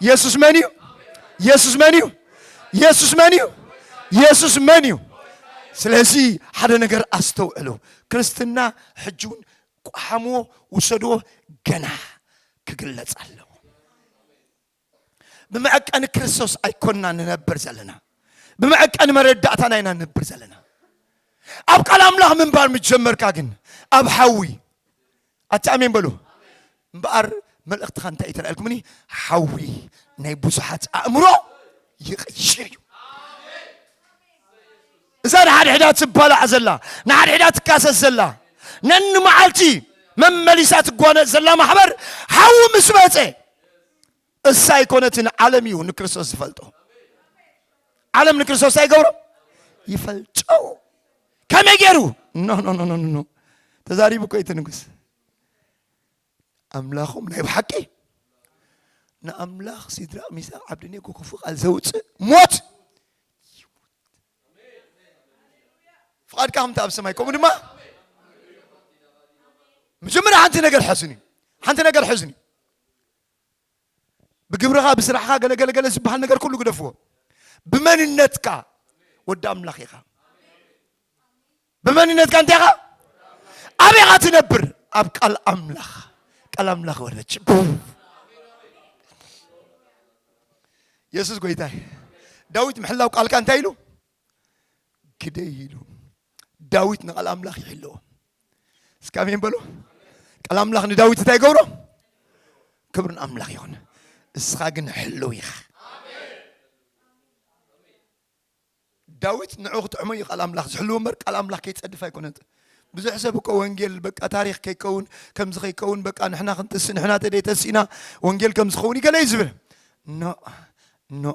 የሱስ መን እዩ? የሱስ መን እዩ? የሱስ መን እዩ? የሱስ መን እዩ? ስለዚ ሓደ ነገር ኣስተውዕሉ። ክርስትና ሕጂ እውን ቋሓምዎ ውሰድዎ ገና ክግለጽ ኣለዎ። ብመዐቀኒ ክርስቶስ ኣይኮንና ንነብር ዘለና፣ ብመዐቀኒ መረዳእታና ኢና ንነብር ዘለና። ኣብ ቃል ኣምላኽ ምንባር ምስ ጀመርካ ግን ኣብ ሓዊ ኣቲ ኣሜን በሉ እምበኣር መልእኽትኻ እንታይ እዩ ተላኢልኩምኒ ሓዊ ናይ ብዙሓት ኣእምሮ ይቕይር እዩ እዛ ንሓድሕዳ ትባላዕ ዘላ ንሓድሕዳ ትካሰስ ዘላ ነንመዓልቲ መመሊሳ ትጓነፅ ዘላ ማሕበር ሓዊ ምስ መፀ እሳ ኣይኮነትን ዓለም እዩ ንክርስቶስ ዝፈልጦ ዓለም ንክርስቶስ ኣይገብሮ ይፈልጦ ከመይ ገይሩ ኖ ኖ ኖ ኖ ኖ ተዛሪቡ እኮ እቲ ንጉስ ኣምላኹም ናይ ብሓቂ ንኣምላኽ ሲድራቅ ሚሳቅ ዓብድኔጎ ክፉ ቃል ዘውፅእ ሞት ፍቓድካ ከምቲ ኣብ ሰማይ ከምኡ ድማ መጀመርያ ሓንቲ ነገር ሕዝኒ ሓንቲ ነገር ሕዝኒ ብግብርኻ ብስራሕኻ ገለገለገለ ዝበሃል ነገር ኩሉ ግደፍዎ ብመንነትካ ወዲ ኣምላኽ ኢኻ ብመንነትካ እንታይ ኢኻ ኣበይ ኢኻ ትነብር ኣብ ቃል ኣምላኽ ቃል ኣምላኽ ወረች የሱስ ጎይታይ ዳዊት ምሕላው ቃልካ እንታይ ኢሉ ግደይ ኢሉ ዳዊት ንቃል ኣምላኽ ይሕልዎ እስካ ኣሜን በሉ ቃል ኣምላኽ ንዳዊት እንታይ ይገብሮ ክብርን ኣምላኽ ይኹን እስኻ ግን ሕልው ኢኻ ዳዊት ንዑ ክጥዕሞ እዩ ቃል ኣምላኽ ዝሕልዎ እምበር ቃል ኣምላኽ ከይፀድፍ ኣይኮነን ብዙሕ ሰብ እኮ ወንጌል በቃ ታሪክ ከይከውን ከምዚ ከይከውን በቃ ንሕና ክንትስእ ንሕና ተደይ ተሲእና ወንጌል ከም ዝኸውን ይገለ እዩ ዝብል ኖ ኖ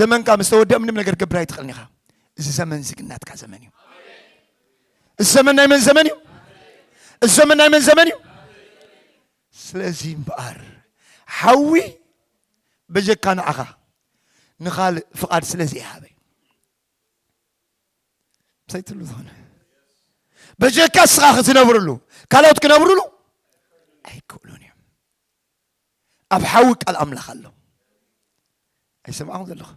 ዘመንካ ምስ ተወድአ ምንም ነገር ክትገብር ኣይትኽእልን ኢኻ እዚ ዘመን እዚ ግን ናትካ ዘመን እዩ እዚ ዘመን ናይ መን ዘመን እዩ እዚ ዘመን ናይ መን ዘመን እዩ ስለዚ እምበኣር ሓዊ በጀካ ንዓኻ ንኻልእ ፍቓድ ስለ ዘይሃበ ምሳይ ትብሉ ዝኾነ በጀካ እስኻ ክትነብርሉ ካልኦት ክነብርሉ ኣይክእሉን እዮም ኣብ ሓዊ ቃል ኣምላኽ ኣሎ ኣይሰማዕኹም ዘለኹ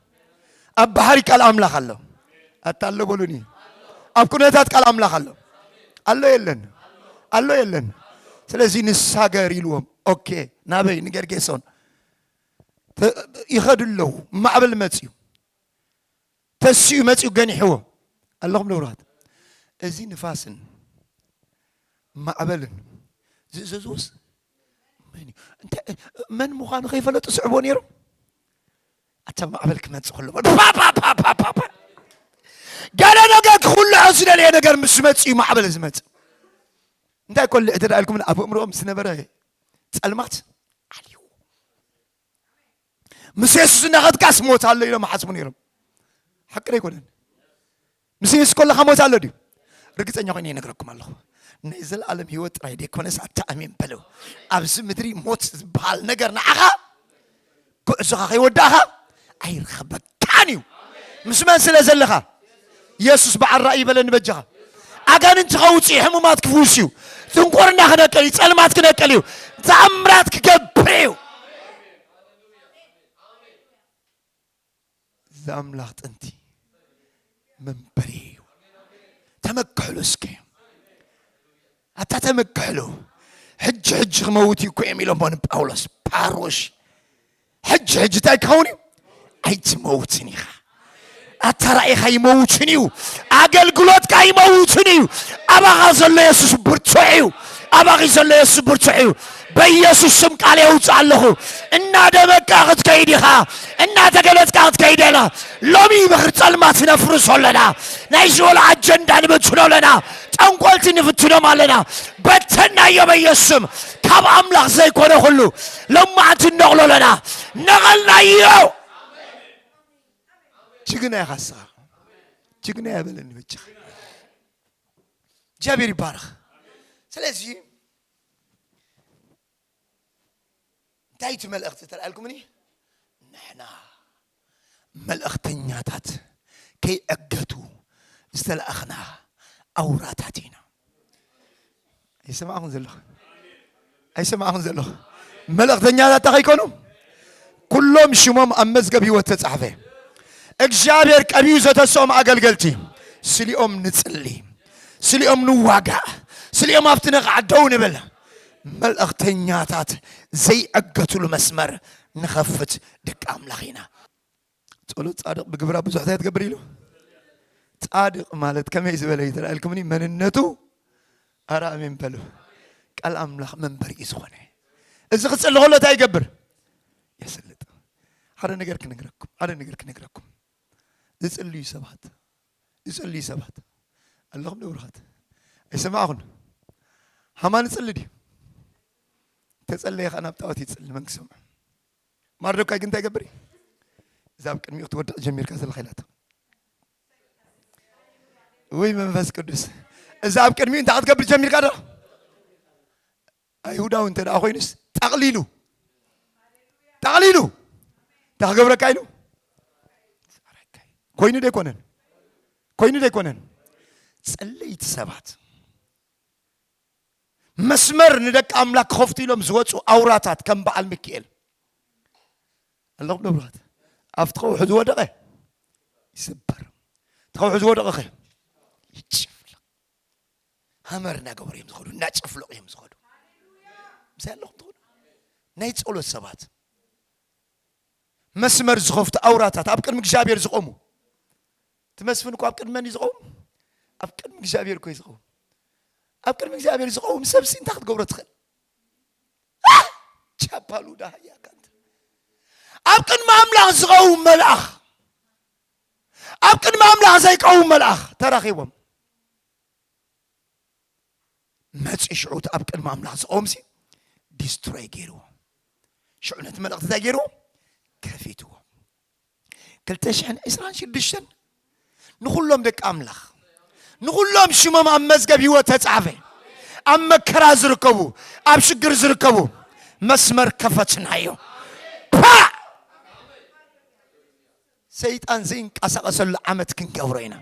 ኣብ ባሕሪ ቃል ኣምላኽ ኣሎ ኣታ ኣሎ በሉኒ ኣብ ኩነታት ቃል ኣምላኽ ኣሎ ኣሎ የለን ኣሎ የለን ስለዚ ንሳገር ኢልዎም ኦኬ ናበይ ንገርጌሶን ይኸዱ ኣለዉ ማዕበል መፅዩ ተሲኡ መጺኡ ገኒሕዎም። ኣለኹም ንብሩሃት። እዚ ንፋስን ማዕበልን ዝእዘዝዎስ መን እዩ? እንታይ መን ምዃኑ ከይፈለጡ ስዕብዎ ነይሮም። ኣታ ማዕበል ክመጽእ ከሎ ፓፓፓፓፓ ገለ ነገር ክኹልዖ ዝደለየ ነገር ምስ ዝመጽእ እዩ ማዕበል ዝመጽእ። እንታይ ኮልዕ ተደኣልኩም ኣብ እምሮኦም ዝነበረ ጸልማት ዓልዩ ምስ የሱስ እናኸድካስ ሞት ኣሎ ኢሎም ሓስቡ ነይሮም ሓቂ ዶ ኣይኮነን ምስ የሱስ ከለካ ሞት ኣሎ ድዩ ርግፀኛ ኮይነ ይነግረኩም ኣለኹ ናይ ዘለኣለም ህይወት ጥራይ ደይኮነስ ኣታ ኣሜን በለው ኣብዚ ምድሪ ሞት ዝበሃል ነገር ንዓኻ ጉዕዞኻ ከይወዳእኻ ኣይረኸበካ ጣን እዩ ምስ መን ስለ ዘለኻ የሱስ በዓል ራእይ በለኒ በጃኻ ኣጋንንቲ ከውፅእ ሕሙማት ክፍውስ እዩ ጥንቁርና ክነቅል እዩ ፀልማት ክነቅል እዩ ተኣምራት ክገብር እዩ እዚ ኣምላኽ ጥንቲ መንበሪ እዩ ተመክሕሉ እስከ ኣታ ተመክሕሉ ሕጂ ሕጂ ክመውት እዩ እኮ እዮም ኢሎሞ ንጳውሎስ ፓሮሽ ሕጂ ሕጂ እንታይ ክኸውን እዩ ኣይትመውትን ኢኻ ኣታ ራእይኻ ይመውትን እዩ ኣገልግሎትካ ይመውትን እዩ ኣባኻ ዘሎ የሱስ ብርቱዕ እዩ ኣባኺ ዘሎ የሱስ ብርቱዕ እዩ በኢየሱስ ስም ቃል የውፅእ ኣለኹ እናደመቅካ ክትከይድ ኢኻ እናተገለፅካ ክትከይድ ኣላ ሎሚ ምኽሪ ፀልማት ነፍርሶ ኣለና ናይ ሽወል ኣጀንዳ ንበትኖ ኣለና ጠንቆልቲ ንፍትኖም ኣለና በተናዮ በኢየሱስ ስም ካብ ኣምላኽ ዘይኮነ ኩሉ ሎማዕንቲ ነቕሎ ኣለና ነቐልናዮ ጅግና ኢኻ ንስኻ ጅግና የበለኒ በጃኻ እግዚኣብሔር ይባረኽ ስለዚህ እንታይ እቲ መልእኽቲ ተላኢልኩምኒ ንሕና መልእኽተኛታት ከይዕገቱ ዝተላእኽና ኣውራታት ኢና ኣይሰማዕኹም ዘለኹ ኣይሰማዕኹም ዘለኹ መልእኽተኛታት እንታይ ከይኮኑ ኩሎም ሽሞም ኣብ መዝገብ ህይወት ተጻሕፈ። እግዚኣብሔር ቀቢኡ ዘተስኦም ኣገልገልቲ ስሊኦም ንጽሊ፣ ስሊኦም ንዋጋእ፣ ስሊኦም ኣብቲ ነቓዕ ደው ንብል፣ መልእኽተኛታት ዘይዕገትሉ መስመር ንኸፍት ደቂ ኣምላኽ ኢና። ጸሎት ጻድቕ ብግብራ ብዙሕ እንታይ ትገብር ኢሉ ጻድቕ ማለት ከመይ ዝበለ እዩ ተላኢልኩምኒ መንነቱ ኣረ ኣሜን በሉ። ቃል ኣምላኽ መንበር እዩ ዝኾነ። እዚ ክጽሊ ከሎ እንታይ ይገብር? የስልጥ። ሓደ ነገር ክነግረኩም ሓደ ነገር ክነግረኩም ዝጽልዩ ሰባት ዝጽልዩ ሰባት ኣለኹም ዶ ብሩኻት ኣይሰማዕኹን ሃማ ንጽሊ ድዩ ተጸለየ ከዓ ናብ ጣዖት ይጽሊ መን ክሰምዑ ማርዶካይ ግን እንታይ ይገብር እዩ እዛ ኣብ ቅድሚኡ ክትወድቕ ጀሚርካ ዘለኻ ኢላቶ ውይ መንፈስ ቅዱስ እዛ ኣብ ቅድሚኡ እንታይ ክትገብር ጀሚርካ ዶ ኣይሁዳዊ እንተ ደኣ ኮይኑስ ጠቕሊሉ ጠቕሊሉ እንታይ ክገብረካ ኢሉ ኮይኑ ዶ ኣይኮነን ኮይኑ ዶ ኣይኮነን ጸለይቲ ሰባት መስመር ንደቂ ኣምላክ ክኸፍቱ ኢሎም ዝወፁ ኣውራታት ከም በዓል ሚካኤል ኣለኹም ዶ ብሩኻት ኣብቲ ከውሑ ዝወደቐ ይስበር እቲ ከውሑ ዝወደቐ ከ ይጭፍልቕ ሃመር እናገበሩ እዮም ዝኸዱ እናጨፍለቑ እዮም ዝኸዱ ምሳይ ኣለኹም ትኹኑ ናይ ጸሎት ሰባት መስመር ዝኸፍቱ ኣውራታት ኣብ ቅድሚ እግዚኣብሔር ዝቆሙ እቲ መስፍን እኮ ኣብ ቅድሚ መን እዩ ዝቐውም ኣብ ቅድሚ እግዚኣብሔር እኮ እዩ ዝቐውም ኣብ ቅድሚ እግዚኣብሔር ዝቐውም ሰብሲ እንታይ ክትገብሮ ትኽእል ቻፓሉ ዳህያ ካንተ ኣብ ቅድሚ ኣምላኽ ዝቐውም መልኣኽ ኣብ ቅድሚ ኣምላኽ ዘይቀውም መልኣኽ ተራኺቦም መፂ ሽዑ እቲ ኣብ ቅድሚ ኣምላኽ ዝቐውም ሲ ዲስትሮይ ገይርዎ ሽዑ ነቲ መልእኽቲ እንታይ ገይርዎ ከፊትዎ ክልተ ሽሕን ዕስራን ሽዱሽተን ንኹሎም ደቂ ኣምላኽ ንኹሎም ሽሞም ኣብ መዝገብ ህይወት ተጻዕፈ ኣብ መከራ ዝርከቡ ኣብ ሽግር ዝርከቡ መስመር ከፈትናዮ ፓ ሰይጣን ዘይንቀሳቐሰሉ ዓመት ክንገብሮ ኢና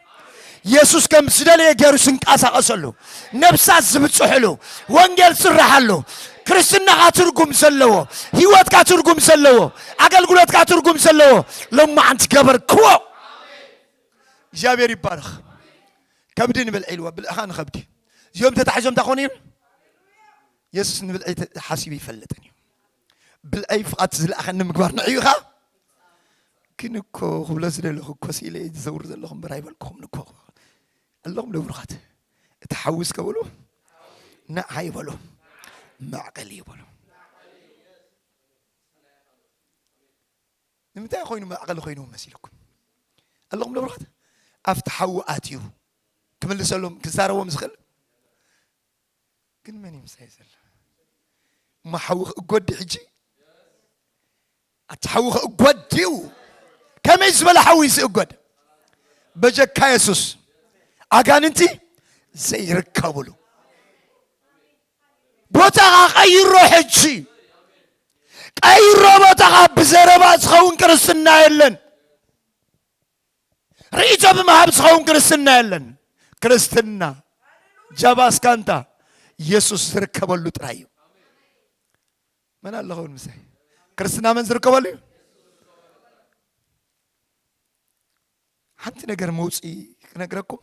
የሱስ ከም ዝደለየ ገይሩ ዝንቀሳቐሰሉ፣ ነፍሳት ዝብጽሕሉ፣ ወንጌል ዝስራሓሉ፣ ክርስትናኻ ትርጉም ዘለዎ፣ ህይወትካ ትርጉም ዘለዎ፣ ኣገልግሎትካ ትርጉም ዘለዎ ሎማዓንቲ ገበርክዎ። እግዚኣብሔር ይባረኽ። ከብዲ ንብልዒልዎ ብልዕኻ ንኸብዲ እዚኦም ተታሒዞም እንታይ ኮኑ እዮም? የሱስ ንብልዒ ሓሲቡ ይፈልጥን እዩ። ብልዐይ ፍቓድቲ ዝለኣኸኒ ምግባር ንዕዩ ኸኣ ግን እኮ ክብሎ ዝደለኹ እኮ ስኢለ እየ ዝዘውር ዘለኹ እምበር ኣይበልኩኹም እኮ ኣለኹም ዶ ብሩኻት እቲ ሓዊ እስከ በሉ ንዓ ይበሉ ማዕቀሊ ይበሉ ንምንታይ ኮይኑ ማዕቀሊ ኮይኑ መሲልኩም ኣለኹም ዶ ብሩኻት ኣብቲ ሓዊ ኣትዩ ክምልሰሎም ክዛረቦም ዝኽእል ግን መን እዩ ምሳይ ዘሎ እሞ ሓዊ ክእጎድ ሕጂ ኣቲ ሓዊ ክእጎድ ድዩ ከመይ ዝበለ ሓዊ ዝእጎድ በጀካ የሱስ ኣጋንንቲ ዘይርከብሉ ቦታኻ ቀይሮ ሕጂ ቀይሮ ቦታኻ ብዘረባ ዝኸውን ክርስትና የለን ርእይቶ ብምሃብ ዝኸውን ክርስትና የለን። ክርስትና ጃባስካንታ ኢየሱስ ዝርከበሉ ጥራይ እዩ። መን ኣለኸውን ምሳይ? ክርስትና መን ዝርከበሉ እዩ? ሓንቲ ነገር መውፅኢ ክነግረኩም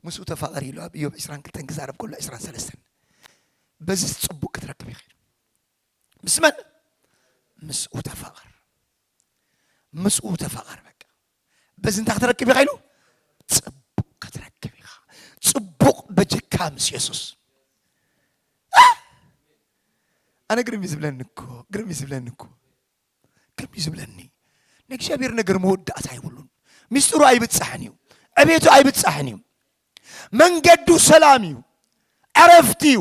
ምስኡ ተፋቐር ኢሉ ኣብ ኢዮብ 22 ክዛረብ ከሎ 23 በዚ ፅቡቅ ክትረክብ ይኽእል ምስ መን ምስኡ ተፋቐር ምስኡ ተፋቐር በቃ በዚ እንታይ ክትረክብ ኢኻ ኢሉ ፅቡቕ ክትረክብ ኢኻ ፅቡቕ በጀካ ምስ የሱስ ኣነ ግርም እዩ ዝብለኒ እኮ ግርም እዩ ዝብለኒ እኮ ግርም እዩ ዝብለኒ ናይ እግዚኣብሔር ነገር መወዳእታ ኣይብሉን ሚስጥሩ ኣይብፃሕን እዩ ዕቤቱ ኣይብፃሕን እዩ መንገዱ ሰላም እዩ ዕረፍቲ እዩ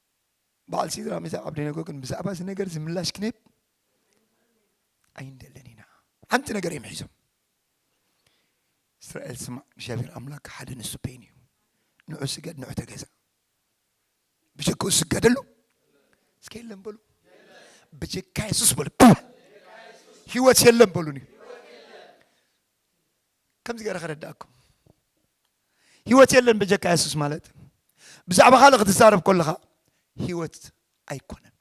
በዓል ሲድራ ሚሳቅ ዓብደነጎ ግን ብዛዕባ እዚ ነገር እዚ ምላሽ ክንህብ ኣይንደልን ኢና ሓንቲ ነገር እዮም ሒዞም እስራኤል ስማዕ እግዚኣብሔር ኣምላክ ሓደ ንሱ በይኑ እዩ ንዑ ስገድ ንዑ ተገዛ ብጀክኡ ስገደሉ እስከ የለን በሉ ብጀካ የሱስ በሉ ህይወት የለን በሉኒ ከምዚ ገረ ከረዳእኩም ህይወት የለን በጀካ የሱስ ማለት ብዛዕባ ካልእ ክትዛረብ ከለኻ ህይወት ኣይኮነን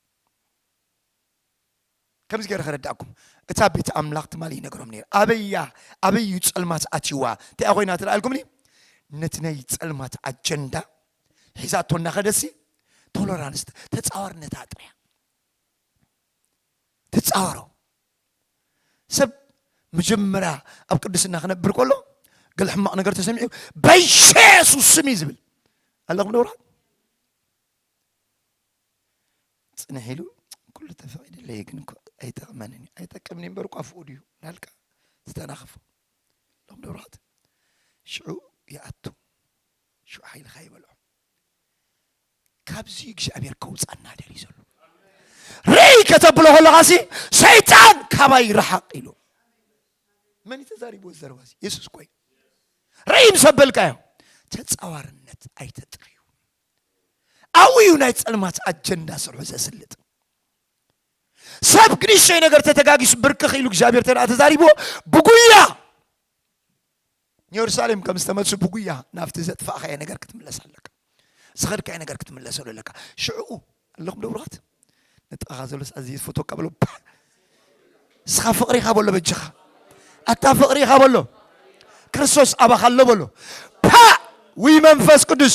ከምዚ ገረ ከረዳእኩም እታ ቤት ኣምላኽ ትማሊ ይነግሮም ነይሩ ኣበያ ኣበይ እዩ ጸልማት ኣትይዋ እንታይ ኮይና ትረኣልኩምኒ ነቲ ናይ ጸልማት ኣጀንዳ ሒዛቶ እናኸደሲ ቶሎራንስ ተፃዋርነታ ጥርያ ተፃወሮ ሰብ መጀመርያ ኣብ ቅድስና ክነብር ከሎ ገለ ሕማቕ ነገር ተሰሚዑ በየሱስ ስም እዩ ዝብል ኣለኹም ደውራ ፅንሕ ኢሉ ኩሉ ተፈቒድለይ ግን እኮ ኣይጠቕመንን እዩ ኣይጠቅምን እዩ እምበር እኳ ኣፍኡ ድዩ ናልካ ዝተናኸፎ ሎም ደብራት ሽዑ ይኣቱ ሽዑ ሓይልካ ይበልዖ ካብዚ እግዚኣብሔር ከውፃና ደልዩ ዘሎ ርይ ከተብሎ ከለካ ሲ ሰይጣን ካባይ ረሓቅ ኢሉ መን ተዛሪቦ ዘረባ የሱስ ኮይ ርይ ምስ ኣበልካዮ ተፃዋርነት ኣይተጥርዩ ኣብኡ እዩ ናይ ፀልማት ኣጀንዳ ስርሑ ዘስልጥ ሰብ ክንሸይ ነገር ተተጋጊሱ ብርክኽ ኢሉ እግዚኣብሔር ተደኣ ተዛሪብዎ ብጉያ ንየሩሳሌም ከም ዝተመልሱ ብጉያ ናብቲ ዘጥፋእኻዮ ነገር ክትምለስ ኣለካ ዝኸድካዮ ነገር ክትምለሰሉ ኣለካ ሽዕኡ ኣለኹም ደብሩኻት ንጥቓኻ ዘሎስ ኣዚ ዝፈትወካ በሎ ንስኻ ፍቕሪ ኢኻ በሎ በጅኻ ኣታ ፍቕሪ ኢኻ በሎ ክርስቶስ ኣባኻ ኣሎ በሎ ፓ ውይ መንፈስ ቅዱስ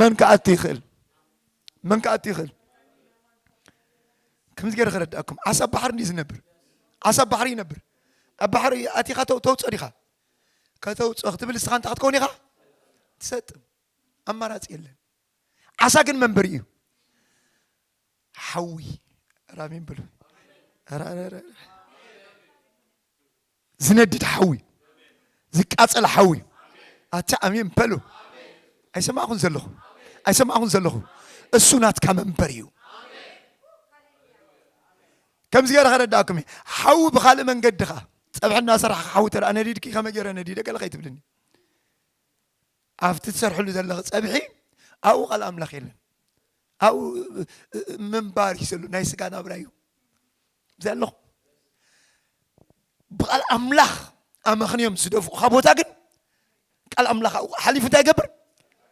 መን ክኣቱ ይኽእል መን ክኣቱ ይኽእል ከምዚ ገይረ ክረዳእኩም ዓሳ ኣብ ባሕሪ እንዲ ዝነብር ዓሳ ኣብ ባሕሪ ይነብር ኣብ ባሕሪ ኣቲኻ ተውፅኦ ዲኻ ከተውፅኦ ክትብል ንስኻ እንታይ ክትከውን ኢኻ ትሰጥም ኣማራፂ የለን ዓሳ ግን መንበሪ እዩ ሓዊ ራሚን ብሉ ዝነድድ ሓዊ ዝቃፀል ሓዊ ኣታ ኣሜን በሉ። ኣይሰማዕኹን ዘለኹ ኣይሰማዕኹን ዘለኹ እሱ ናትካ መንበር እዩ። ከምዚ ገይረ ከረዳእኩም እዩ ሓዊ ብካልእ መንገዲ ኸ ፀብሒ እናሰራሕካ ሓዊ ተደኣ ነዲድኪ ከመይ ገይረ ነዲደ ገለ ከይትብልኒ ኣብቲ ትሰርሕሉ ዘለኺ ፀብሒ ኣብኡ ቃል ኣምላኽ የለን ኣብኡ ምንባር እዩ ዘሎ ናይ ስጋ ናብራ እዩ እዚኣ ኣለኹ ብቃል ኣምላኽ ኣመኽንዮም ዝደፍኡኻ ቦታ ግን ቃል ኣምላኽ ኣብኡ ሓሊፉ እንታይ ይገብር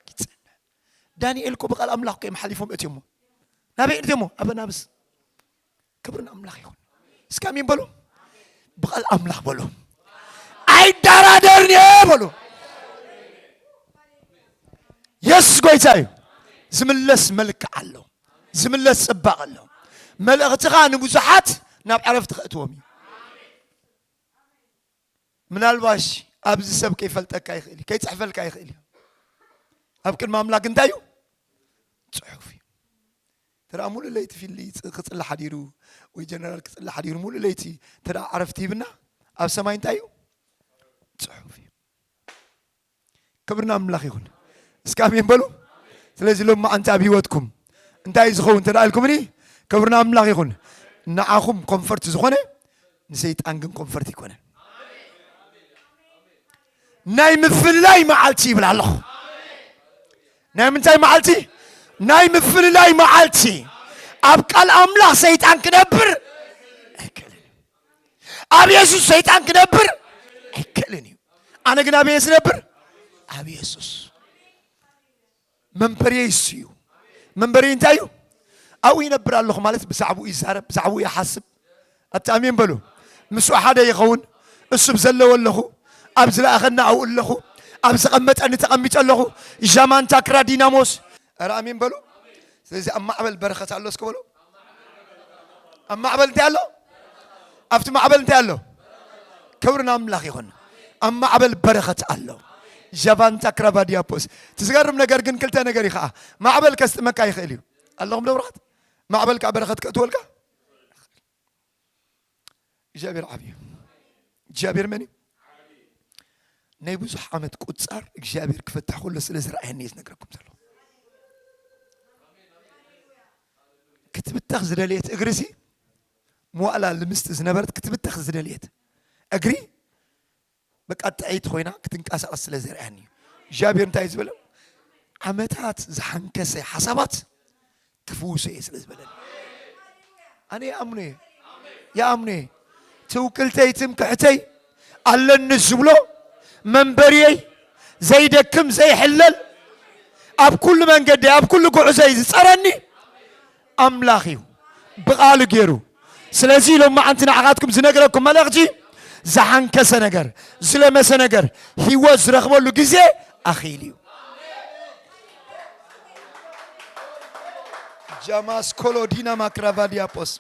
ይጸንዕ ዳንኤል እኮ ብቃል ኣምላኽ ከዮም ሓሊፎም እትዮሞ ናበይ እትዮሞ ኣብ ናብስ ክብሪ ንኣምላኽ ይኹን እስኪ ኣሜን በሉ ብቃል ኣምላኽ በሉ ኣይደራደርን እየ በሉ የሱስ ጎይታ እዩ ዝምለስ መልክዕ ኣሎ ዝምለስ ጽባቕ ኣሎ መልእኽትኻ ንብዙሓት ናብ ዕረፍቲ ከእትዎም እዩ ምናልባሽ ኣብዚ ሰብ ከይፈልጠካ ይኽእል እዩ ከይፅሕፈልካ ይኽእል እዩ ኣብ ቅድሚ ኣምላክ እንታይ እዩ ፅሑፍ እዩ ተደኣ ሙሉእ ለይቲ ፊሊ ክፅሊ ሓዲሩ ወይ ጀነራል ክፅሊ ሓዲሩ ሙሉእ ለይቲ ተደኣ ዕረፍቲ ሂብና ኣብ ሰማይ እንታይ እዩ ፅሑፍ እዩ ክብሪ ንኣምላኽ ይኹን። እስኪ ኣሜን በሉ። ስለዚ ሎም መዓንቲ ኣብ ህይወትኩም እንታይ እዩ ዝኸውን እንተደኣ ኢልኩምኒ ክብሪ ንኣምላኽ ይኹን። ንዓኹም ኮንፈርት ዝኾነ ንሰይጣን ግን ኮንፈርት ኣይኮነን። ናይ ምፍልላይ መዓልቲ ይብል ኣለኹ። ናይ ምንታይ መዓልቲ? ናይ ምፍልላይ መዓልቲ። ኣብ ቃል ኣምላኽ ሰይጣን ክነብር ኣይክእልን። ኣብ የሱስ ሰይጣን ክነብር ኣይክእልን እዩ ኣነ ግን ኣበየ ዝነብር ኣብ የሱስ መንበርየ ይሱ እዩ መንበርየ እንታይ እዩ ኣብኡ ይነብር ኣለኹ ማለት ብዛዕባኡ ይዛረብ ብዛዕባኡ ይሓስብ ኣብቲ ኣሜን በሉ ምስኡ ሓደ ይኸውን እሱ ብዘለዎ ኣለኹ ኣብ ዝለኣኸና ኣብኡ ኣለኹ ኣብ ዘቐመጠኒ ተቐሚጠ ኣለኹ ዣማንታ ክራ ዲናሞስ ኧረ ኣሜን በሉ። ስለዚህ ኣብ ማዕበል በረኸት ኣሎ እስኪ በሉ። ኣብ ማዕበል እንታይ ኣሎ? ኣብቲ ማዕበል እንታይ ኣሎ? ክብሪ ንኣምላኽ ይኹን። ኣብ ማዕበል በረኸት ኣሎ። ዣቫንታ ክራቫዲያፖስ ትዝገርም ነገር ግን ክልተ ነገር እዩ ከዓ ማዕበል ከስጥመካ ይኽእል እዩ ኣለኹም ደብራት ማዕበል ከዓ በረኸት ከእትወልካ እግዚኣብሔር ዓብ እዩ እግዚኣብሔር መን እዩ ናይ ብዙሕ ዓመት ቁፃር እግዚኣብሔር ክፈትሕ ከሎ ስለ ዝረኣየኒ እዩ ዝነግረኩም ዘሎ ክትብተኽ ዝደለየት እግሪ ሲ መዋእላ ልምስቲ ዝነበረት ክትብተኽ ዝደለየት እግሪ በቃ ጥዕይቲ ኮይና ክትንቀሳቐስ ስለ ዘርኣያኒ እዩ እግዚኣብሔር እንታይ እዩ ዝበለ ዓመታት ዝሓንከሰ ሓሳባት ክፍውሶ እየ ስለ ዝበለኒ ኣነ ይኣምኖ እየ ይኣምኖ እየ ትውክልተይ ትምክሕተይ ኣለኒ ዝብሎ መንበርየይ ዘይደክም ዘይሕለል ኣብ ኩሉ መንገዲ ኣብ ኩሉ ጉዕዘይ ዝፀረኒ ኣምላኽ እዩ ብቃሉ ገይሩ ስለዚ ሎማዓንቲ ንዓኻትኩም ዝነግረኩም መልእኽቲ ዝሓንከሰ ነገር ዝለመሰ ነገር ህይወት ዝረኽበሉ ግዜ ኣኺሉ እዩ ጃማስ ኮሎዲና ማክራቫዲያጶስ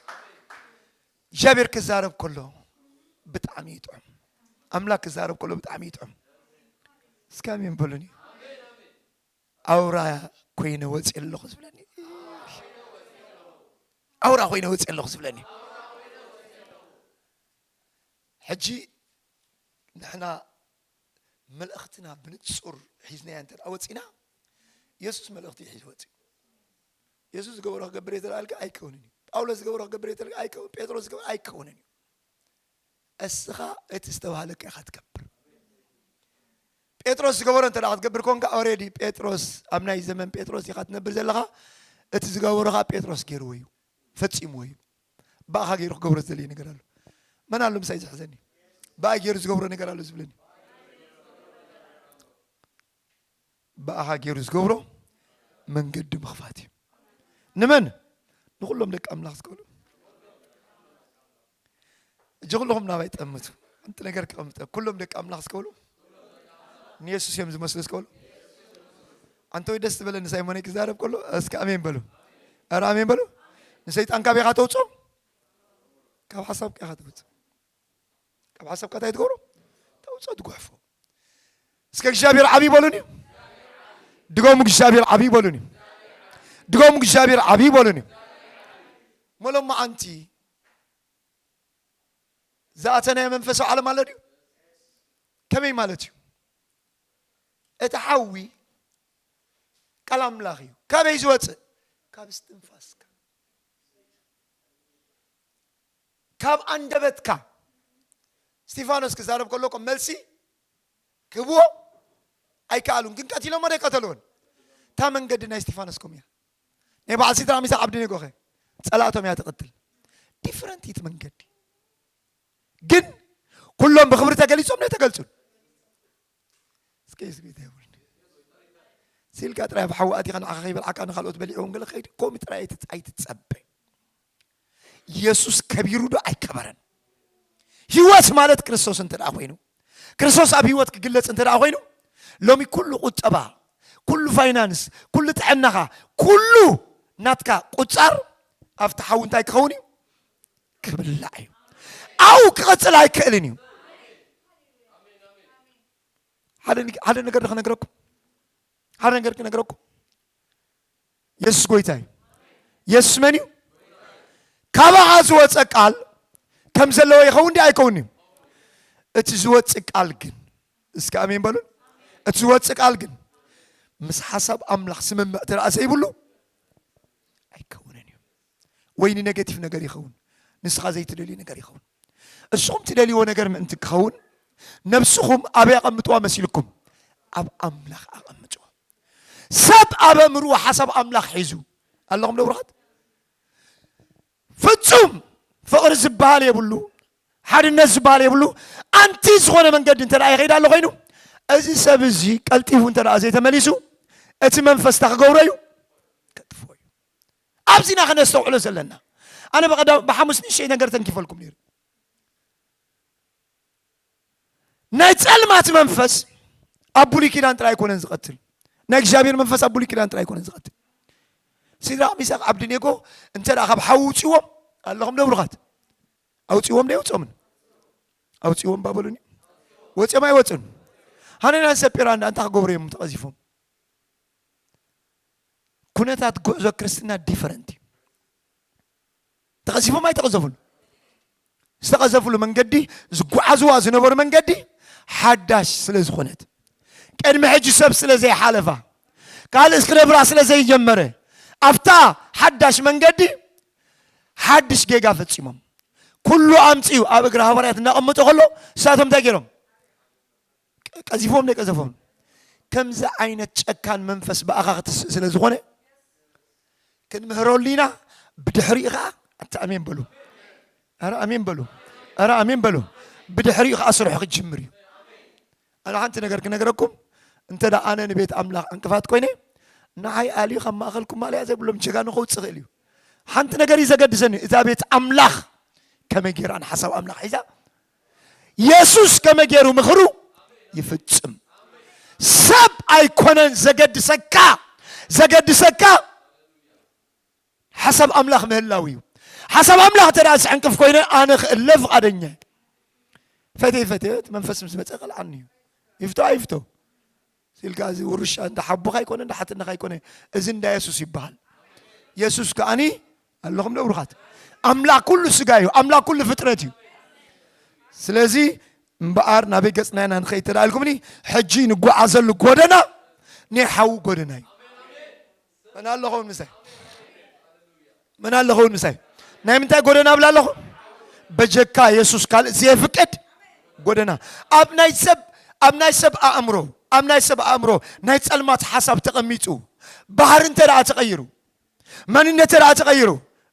እግዚኣብሔር ክዛረብ ከሎ ብጣዕሚ ይጥዑም ኣምላክ ክዛረብ ከሎ ብጣዕሚ ይጥዑም እስከ ኣሜን በሉኒ ኣውራ ኮይነ ወፅየ ኣለኹ ዝብለኒ ኣውራ ኮይነ ወፅየ ኣለኹ ዝብለኒ ሕጂ ንሕና መልእኽትና ብንጹር ሒዝናያ እንተ ወፂና የሱስ መልእኽቲ ሒዙ ወፅኡ የሱስ ዝገበሮ ክገብር እየ ተልኣልካ ኣይከውንን እዩ ጳውሎስ ዝገበሮ ክገብር እየ ተልካ ኣይከውን ጴጥሮስ ዝገበሮ ኣይከውንን እዩ እስኻ እቲ ዝተባህለካ ኢኻ ትገብር ጴጥሮስ ዝገበሮ እንተ ክትገብር ኮንካ ኦሬዲ ጴጥሮስ ኣብ ናይ ዘመን ጴጥሮስ ኢኻ ትነብር ዘለኻ እቲ ዝገበሮ ከዓ ጴጥሮስ ገይርዎ እዩ ፈፂምዎ እዩ ብኣኻ ገይሩ ክገብሮ ዝደለየ ነገር ኣሎ መን ኣሎ ምሳይ ዝሕዘኒ ብኣ ገይሩ ዝገብሮ ነገር ኣሎ ዝብለኒ ብኣኻ ገይሩ ዝገብሮ መንገዲ ምኽፋት እዩ ንመን ንኹሎም ደቂ ኣምላኽ ዝከሉ እጅ ኩለኹም ናባይ ጠምቱ ሓንቲ ነገር ክቐምጠ ኩሎም ደቂ ኣምላኽ ዝከሉ ንየሱስ እዮም ዝመስሉ ዝከሉ ኣንተ ወይ ደስ ዝበለ ንሳይሞነይ ክዛረብ ከሎ እስኪ ኣሜን በሉ ኧረ ኣሜን በሉ ንሰይጣን ካበይካ ተውፅኦ ካብ ሓሳብካ ኢኻ ተውፅኦ ካብ ሓሳብካ እንታይ ትገብሮ ተውፅኦ ትጉሕፎ እስከ እግዚኣብሔር ዓብይ በሉን እዩ ድገሙ እግዚኣብሔር ዓብይ በሉን እዩ ድገሙ እግዚኣብሔር ዓብይ በሉን እዩ መሎም መዓንቲ ዝኣተናዮ መንፈሳዊ ዓለም ኣሎ ድዩ ከመይ ማለት እዩ እቲ ሓዊ ቃል ኣምላኽ እዩ ካበይ ዝወፅእ ካብ እስትንፋስካ ካብ ኣንደበትካ እስቲፋኖስ ክዛረብ ከሎ እኮ መልሲ ክህብዎ ኣይከኣሉን ግን ቀቲሎሞ ዶ ኣይቀተልዎን እታ መንገዲ ናይ እስቲፋኖስ ከምኡ እያ ናይ በዓል ሲድራቅ ሚሳቅ ዓብድኔጎ ከ ጸላእቶም እያ ትቅትል ዲፍረንት እይት መንገዲ ግን ኩሎም ብክብሪ ተገሊጾም ዶ ኣይተገልጹን እስከ ስቤት የብሉን ሲልካ ጥራይ ኣብ ሓዊ ኣቲኻ ንዓኻ ከይበልዓካ ንካልኦት በሊዕዎም ገለ ከይዲ ከምኡ ጥራይ ኣይትጸበ ኢየሱስ ከቢሩ ዶ ኣይከበረን? ህይወት ማለት ክርስቶስ እንተ ኮይኑ ክርስቶስ ኣብ ህይወት ክግለጽ እንተ ኮይኑ ሎሚ ኩሉ ቁጠባ፣ ኩሉ ፋይናንስ፣ ኩሉ ጥዕናኻ፣ ኩሉ ናትካ ቁጻር ኣብቲ ሓዊ እንታይ ክኸውን እዩ? ክብላዕ እዩ። ኣብኡ ክቕጽል ኣይክእልን እዩ። ሓደ ነገር ክነግረኩም ሓደ ነገር ክነግረኩም የሱስ ጎይታ እዩ። የሱስ መን እዩ? ካባኻ ዝወፀ ቃል ከም ዘለዎ ይኸውን ዲ ኣይከውን እዩ? እቲ ዝወፅእ ቃል ግን እስከ ኣሜን በሉን። እቲ ዝወፅእ ቃል ግን ምስ ሓሳብ ኣምላኽ ስምምዕ ተረኣ ዘይብሉ ኣይከውንን እዩ። ወይ ንነገቲቭ ነገር ይኸውን፣ ንስኻ ዘይትደልዩ ነገር ይኸውን። እስኹም ትደልይዎ ነገር ምእንቲ ክኸውን ነብስኹም ኣበይ ኣቐምጥዋ መሲልኩም? ኣብ ኣምላኽ ኣቐምጥዎ። ሰብ ኣብ ኣእምርኡ ሓሳብ ኣምላኽ ሒዙ ኣለኹም ዶ ብሩኻት? ፍጹም ፍቕሪ ዝበሃል የብሉ፣ ሓድነት ዝበሃል የብሉ። ኣንቲ ዝኾነ መንገዲ እንተ ይኸይድ ኣሎ ኮይኑ እዚ ሰብ እዚ ቀልጢፉ እንተ ዘይተመሊሱ እቲ መንፈስ እታ ክገብሮ እዩ ከጥፎ እዩ። ኣብዚና ከነስተውዕሎ ዘለና ኣነ ብሓሙስ ንእሸይ ነገር ተንኪፈልኩም ነይሩ ናይ ጸልማት መንፈስ ኣብ ብሉይ ኪዳን ጥራይ ኣይኮነን ዝቐትል ናይ እግዚኣብሔር መንፈስ ኣብ ብሉይ ኪዳን ጥራይ ኣይኮነን ዝቐትል ሲድራቅ ሚሳቅ ዓብድኔጎ እንተ ካብ ሓዊ ውፅዎም ኣለኹም ደብሩኻት ኣውፅዎም ዶ ይውፅኦምን ኣውፅዎም ባበሉኒ ወፅኦም ኣይወፅን ሃነናን ሰጲራ እንዳ እንታይ ክገብሩ እዮም ተቐዚፎም ኩነታት ጉዕዞ ክርስትና ዲፈረንት እዩ ተቐዚፎም ኣይተቐዘፉን። ዝተቐዘፍሉ መንገዲ ዝጓዓዝዋ ዝነበሩ መንገዲ ሓዳሽ ስለ ዝኾነት ቅድሚ ሕጂ ሰብ ስለ ዘይሓለፋ ካልእ ክነብራ ስለ ዘይጀመረ ኣብታ ሓዳሽ መንገዲ ሓድሽ ጌጋ ፈጺሞም ኩሉ ኣምጽኡ ኣብ እግሪ ሃዋርያት እናቐመጦ ከሎ ንሳቶም እንታይ ገይሮም ቀዚፎም ደይ ቀዘፎም ከምዚ ዓይነት ጨካን መንፈስ ብኣኻ ክትስእ ስለ ዝኾነ ክንምህረሉ ኢና ብድሕሪኡ ከዓ ኣንተ ኣሜን በሉ ኣረ ኣሜን በሉ ኣረ ኣሜን በሉ ብድሕሪኡ ከዓ ስርሑ ክጅምር እዩ ኣነ ሓንቲ ነገር ክነገረኩም እንተ ደኣ ኣነ ንቤት ኣምላኽ ዕንቅፋት ኮይነ ንዓይ ኣልዩ ካብ ማእኸልኩም ማልያ ዘይብሎም ጀጋኑ ከውፅ ይኽእል እዩ ሓንቲ ነገር እዩ ዘገድሰኒ እዛ ቤት ኣምላኽ ከመይ ጌራን ሓሳብ ኣምላኽ ሒዛ የሱስ ከመይ ገይሩ ምኽሩ ይፍጽም? ሰብ ኣይኮነን ዘገድሰካ፣ ዘገድሰካ ሓሳብ ኣምላኽ ምህላው እዩ። ሓሳብ ኣምላኽ እንተ ደኣ ዝዕንቅፍ ኮይነ ኣነ ክእለ ፍቓደኛ እየ። ፈተይ ፈተዮ እቲ መንፈስ ምስ መጸ ቀልዓኒ እዩ። ይፍቶ ኣይፍቶ ሲልካ እዚ ውርሻ እንዳ ሓቦኻ ኣይኮነ እንዳ ሓትነኻ ኣይኮነ እዚ እንዳ የሱስ ይበሃል የሱስ ከዓኒ ኣለኹም ዶ ብሩኻት ኣምላኽ ኩሉ ስጋ እዩ ኣምላኽ ኩሉ ፍጥረት እዩ ስለዚ እምበኣር ናበይ ገጽና ኢና ንኸይድ ተዳኢልኩምኒ ሕጂ ንጓዓዘሉ ጎደና ናይ ሓዊ ጎደና እዩ መን ኣለኸውን ምሳይ መን ኣለኸውን ምሳይ ናይ ምንታይ ጎደና ብላ ኣለኹ በጀካ የሱስ ካልእ ዘየፍቅድ ጎደና ኣብ ናይ ሰብ ኣብ ናይ ሰብ ኣእምሮ ኣብ ናይ ሰብ ኣእምሮ ናይ ጸልማት ሓሳብ ተቐሚጡ ባህሪ እንተ ደኣ ተቐይሩ መንነት ደኣ ተቐይሩ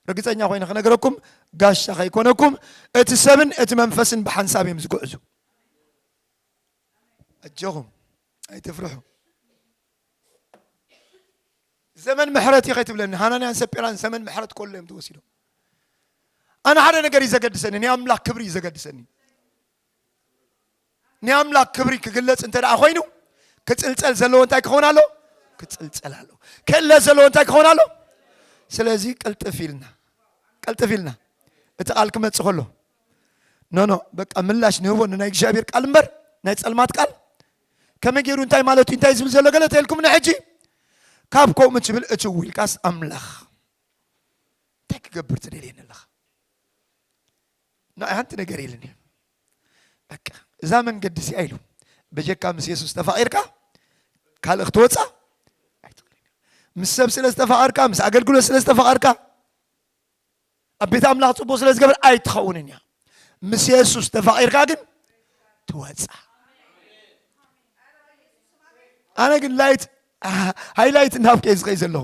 ርግፀኛ ኮይነ ክነገረኩም ጋሻ ከይኮነኩም እቲ ሰብን እቲ መንፈስን ብሓንሳብ እዮም ዝጉዕዙ ኣጆኹም ኣይትፍርሑ ዘመን ምሕረት እዩ ከይትብለኒ ሃናንያን ሰጲራን ዘመን ምሕረት ከሎ እዮም ተወሲዶም ኣነ ሓደ ነገር እዩ ዘገድሰኒ ናይ ኣምላክ ክብሪ እዩ ዘገድሰኒ ናይ ኣምላክ ክብሪ ክግለጽ እንተ ደኣ ኮይኑ ክጽልጸል ዘለዎ እንታይ ክኸውን ኣሎ ክጽልጸል ኣሎ ክእለ ዘለዎ እንታይ ክኸውን ኣሎ ስለዚ ቅልጥፍ ኢልና ቅልጥፍ ኢልና እቲ ቃል ክመጽእ ከሎ ኖኖ በቃ ምላሽ ንህቦ ንናይ እግዚኣብሔር ቃል እምበር ናይ ጸልማት ቃል ከመይ ገይሩ እንታይ ማለት እዩ እንታይ ዝብል ዘሎ ገለ ተልኩምኒ ሕጂ ካብ ከምኡ ትብል እቲ ውልቃስ ኣምላኽ እንታይ ክገብር ትደልየኒ ኣለኻ ንኣይ ሓንቲ ነገር ኢልኒ በቃ እዛ መንገዲ እዚኣ ኢሉ በጀካ ምስ የሱስ ተፋቒርካ ካልእ ክትወፅኣ ምስ ሰብ ስለ ዝተፋቐርካ ምስ ኣገልግሎት ስለ ዝተፋቐርካ ኣብ ቤት ኣምላኽ ጽቡቕ ስለ ዝገበር ኣይትኸውንን እያ ምስ የሱስ ተፋቒርካ ግን ትወጻ ኣነ ግን ላይት ሃይላይት እናብከ ዝኸይ ዘለኹ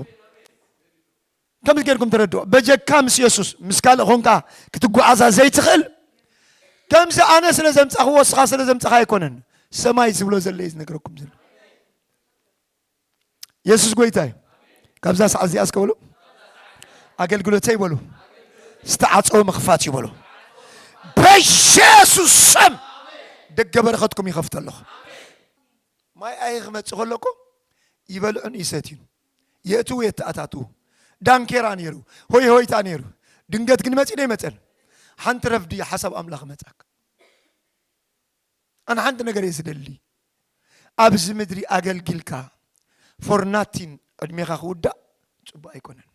ከምዚ ጌርኩም ተረድኦ በጀካ ምስ የሱስ ምስ ካልእ ኾንካ ክትጓዓዛ ዘይትኽእል ከምዚ ኣነ ስለ ዘምጻኽዎ ስኻ ስለ ዘምጻኻ ኣይኮነን ሰማይ ዝብሎ ዘለ እዩ ዝነገረኩም ዘሎ የሱስ ጎይታ እዩ ካብዛ ሰዓት እዚኣ እስከ በሉ ኣገልግሎተይ በሉ ዝተዓፀወ ምኽፋት እዩ በሉ በየሱስ ስም ደገ በረኸትኩም ይኸፍተ ኣለኹ ማይ ኣይ ክመፅእ ከሎ እኮ ይበልዑን ይሰትዩን የእትዉ የተኣታትዉ ዳንኬራ ነይሩ ሆይ ሆይታ ነይሩ ድንገት ግን መፂ ዶ ይመፀን ሓንቲ ረፍዲ ሓሳብ ኣምላኽ መፃክ ኣነ ሓንቲ ነገር እየ ዝደሊ ኣብዚ ምድሪ ኣገልጊልካ ፎር ናቲን ዕድሜኻ ክውዳእ ጽቡቅ ኣይኮነን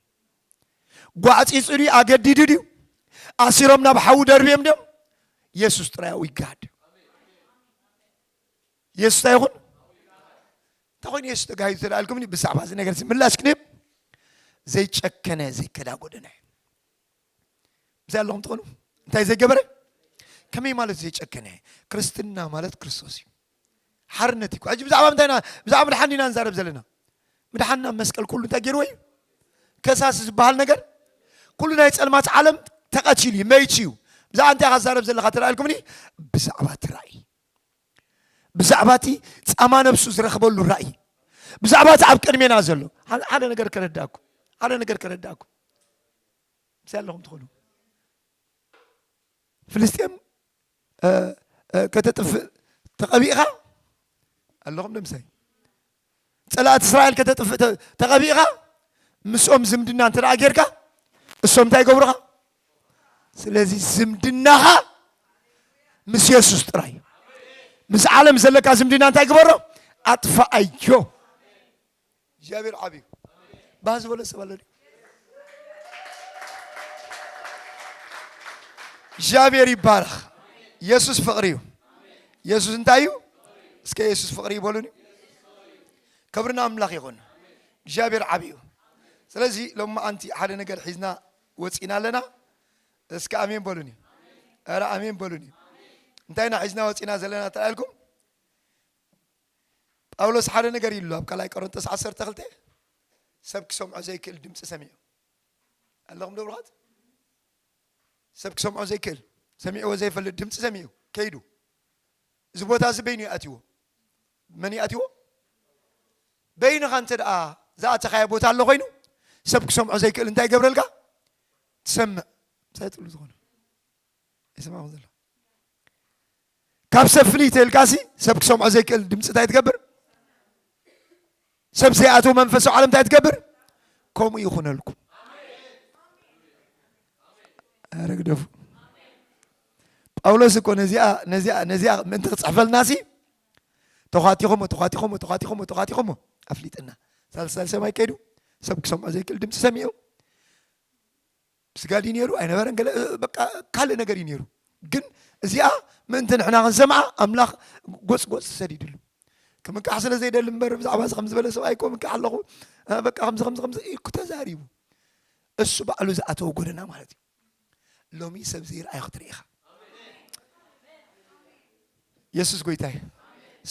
ጓዕጺጹ ድዩ ኣገዲዱ ድዩ ኣሲሮም ናብ ሓዊ ደርብዮም ድዮም የሱስ ጥራይ ኣብኡ ይጋሃድ የሱስ እንታይ ይኹን እንታይ ኮይኑ የሱስ ተጋሂዱ ተደኣልኩምኒ ብዛዕባ እዚ ነገር ምላሽ ክንህብ ዘይጨከነ ዘይከዳጎደነ ምስይ ኣለኹም ትኾኑ እንታይ ዘይገበረ ከመይ ማለት ዘይጨከነ ክርስትና ማለት ክርስቶስ እዩ ሓርነት እዩ ሕጂ ብዛዕባ ምንታይ ኢና ብዛዕባ ምድሓን ኢና ንዛረብ ዘለና ምድሓንና መስቀል ኩሉ እንታይ ገይርዎ እዩ ከሳሲ ዝበሃል ነገር ኩሉ ናይ ፀልማት ዓለም ተቐቲሉ እዩ መይቱ እዩ ብዛዕባ እንታይ ኢኻ ትዛረብ ዘለኻ ተላኢልኩምኒ ብዛዕባ እቲ ራእይ ብዛዕባ እቲ ጻማ ነብሱ ዝረኽበሉ ራእይ፣ ብዛዕባ እቲ ኣብ ቅድሜና ዘሎ ሓደ ነገር ከረዳእኩ ሓደ ነገር ከረዳእኩ ምስይ ኣለኹም ትኽእሉ ፍልስጤም ከተጥፍእ ተቐቢእኻ ኣለኹም ንምሳይ ፀላእቲ እስራኤል ከተጥፍእ ተቐቢእኻ ምስኦም ዝምድና እንተ ጌርካ እሶም እንታይ ይገብሩኻ? ስለዚ ዝምድናኻ ምስ የሱስ ጥራይ እዩ። ምስ ዓለም ዘለካ ዝምድና እንታይ ግበሮ? ኣጥፋኣዮ። እግዚኣብሔር ዓብዩ ባህ ዝበሎ ሰብ ኣሎ እግዚኣብሔር ይባረኽ። ኢየሱስ ፍቅሪ እዩ። ኢየሱስ እንታይ እዩ? እስከ ኢየሱስ ፍቅሪ ይበሉን ክብርና ኣምላኽ ይኹን። እግዚኣብሔር ዓብ እዩ። ስለዚ ሎም ኣንቲ ሓደ ነገር ሒዝና ወፂና ኣለና። እስከ ኣሜን በሉኒ። ኧረ ኣሜን በሉኒ። እንታይ ኢና ሒዝና ወፂና ዘለና ተላኢልኩም ጳውሎስ ሓደ ነገር ኢሉ ኣብ ካልኣይ ቆሮንቶስ ዓሰርተ ክልተ ሰብ ክሰምዖ ዘይክእል ድምፂ ሰሚዑ ኣለኹም ደብሩኻት ሰብ ክሰምዖ ዘይክእል ሰሚዕዎ ዘይፈልጥ ድምፂ ሰሚዑ ከይዱ እዚ ቦታ እዚ በይኑ ይኣትዎ መን ይኣትዎ በይንኻ እንተ ደኣ ዝኣተኻዮ ቦታ ኣሎ ኮይኑ ሰብ ክሰምዖ ዘይክእል እንታይ ይገብረልካ ትሰምዕ ሳይጥሉ ዝኾነ ይሰማዕኹም ዘሎ ካብ ሰብ ፍልይ ተልካሲ ሰብ ክሰምዖ ዘይክእል ድምፂ እንታይ ትገብር ሰብ ዘይኣተው መንፈሳዊ ዓለም እንታይ ትገብር ከምኡ ይኹነልኩም ረግደፉ ጳውሎስ እኮ ነዚኣ ነዚኣ ነዚኣ ምእንቲ ክፅሕፈልና ሲ ተኳቲኹሞ ተኳቲኹሞ ተኳቲኹሞ ተኳቲኹሞ ኣፍሊጥና ሳልሳል ሰማይ ከይዱ ሰብ ክሰምዖ ዘይክእል ድምፂ ሰሚዑ ብስጋ ድዩ ነይሩ ኣይነበረን ገለ በቃ ካልእ ነገር እዩ ነይሩ ግን እዚኣ ምእንቲ ንሕና ክንሰምዓ ኣምላኽ ጎጽ ጎጽ ሰዲድሉ ክምካሕ ስለ ዘይደሊ እምበር ብዛዕባ እዚ ከምዝበለ ሰብኣይ እኮ ምካሕ ኣለኹ በቃ ከምዚ ከምዚ ከምዚ እኩ ተዛሪቡ እሱ ባዕሉ ዝኣተወ ጎደና ማለት እዩ ሎሚ ሰብ ዘይርኣዩ ክትርኢ ኢኻ የሱስ ጎይታ እዩ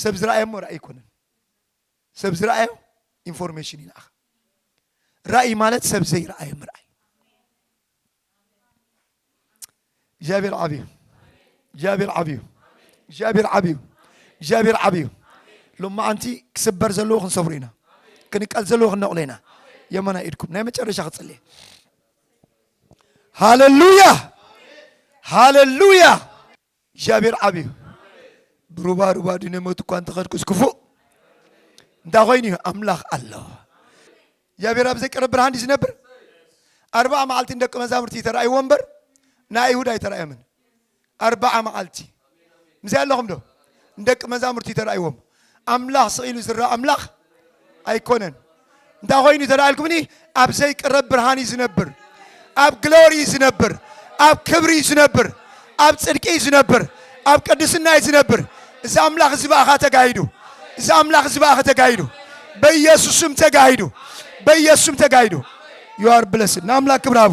ሰብ ዝረኣየ እሞ ራእይ ኣይኮነን ሰብ ዝረኣዮ ኢንፎርሜሽን ይልኣኽ። ራእይ ማለት ሰብ ዘይረኣዮ ምርኣይ። እግዚኣብሔር ዓብዩ፣ እግዚኣብሔር ዓብዩ፣ እግዚኣብሔር ዓብዩ፣ እግዚኣብሔር ዓብዩ። ሎማዓንቲ ክስበር ዘለዎ ክንሰብሮ ኢና፣ ክንቀል ዘለዎ ክንነቕሎ ኢና። የመና ኢድኩም ናይ መጨረሻ ክፅልየ ሃለሉያ ሃለሉያ እግዚኣብሔር ዓብዩ ብሩባ ሩባ ድነ ሞት እኳ እንተኸድኩስ ክፉእ እንታይ ኮይኑ እዩ ኣምላኽ ኣሎ እግዚኣብሔር ኣብ ዘይቀረብ ብርሃን ድዩ ዝነብር ኣርባዓ መዓልቲ ንደቂ መዛሙርቲ ተራእይዎ እምበር ናይ ኣይሁድ ኣይተራእዮምን ኣርባዓ መዓልቲ ምስይ ኣለኹም ዶ ንደቂ መዛሙርቲ ተራእይዎም ኣምላኽ ስቕ ኢሉ ዝረኣ ኣምላኽ ኣይኮነን። እንታይ ኮይኑ ተላኢልኩምኒ ኣብ ዘይቅረብ ብርሃን እዩ ዝነብር ኣብ ግሎሪ እዩ ዝነብር ኣብ ክብሪ እዩ ዝነብር ኣብ ጽድቂ እዩ ዝነብር ኣብ ቅድስና እዩ ዝነብር እዚ ኣምላኽ እዚ በኣኻ ተጋሂዱ እዚ ኣምላኽ እዚ በኣኻ ተጋሂዱ በኢየሱስም ተጋሂዱ በኢየሱስም ተጋሂዱ ዩ ኣር ብለስድ ንኣምላክ ክብራቡ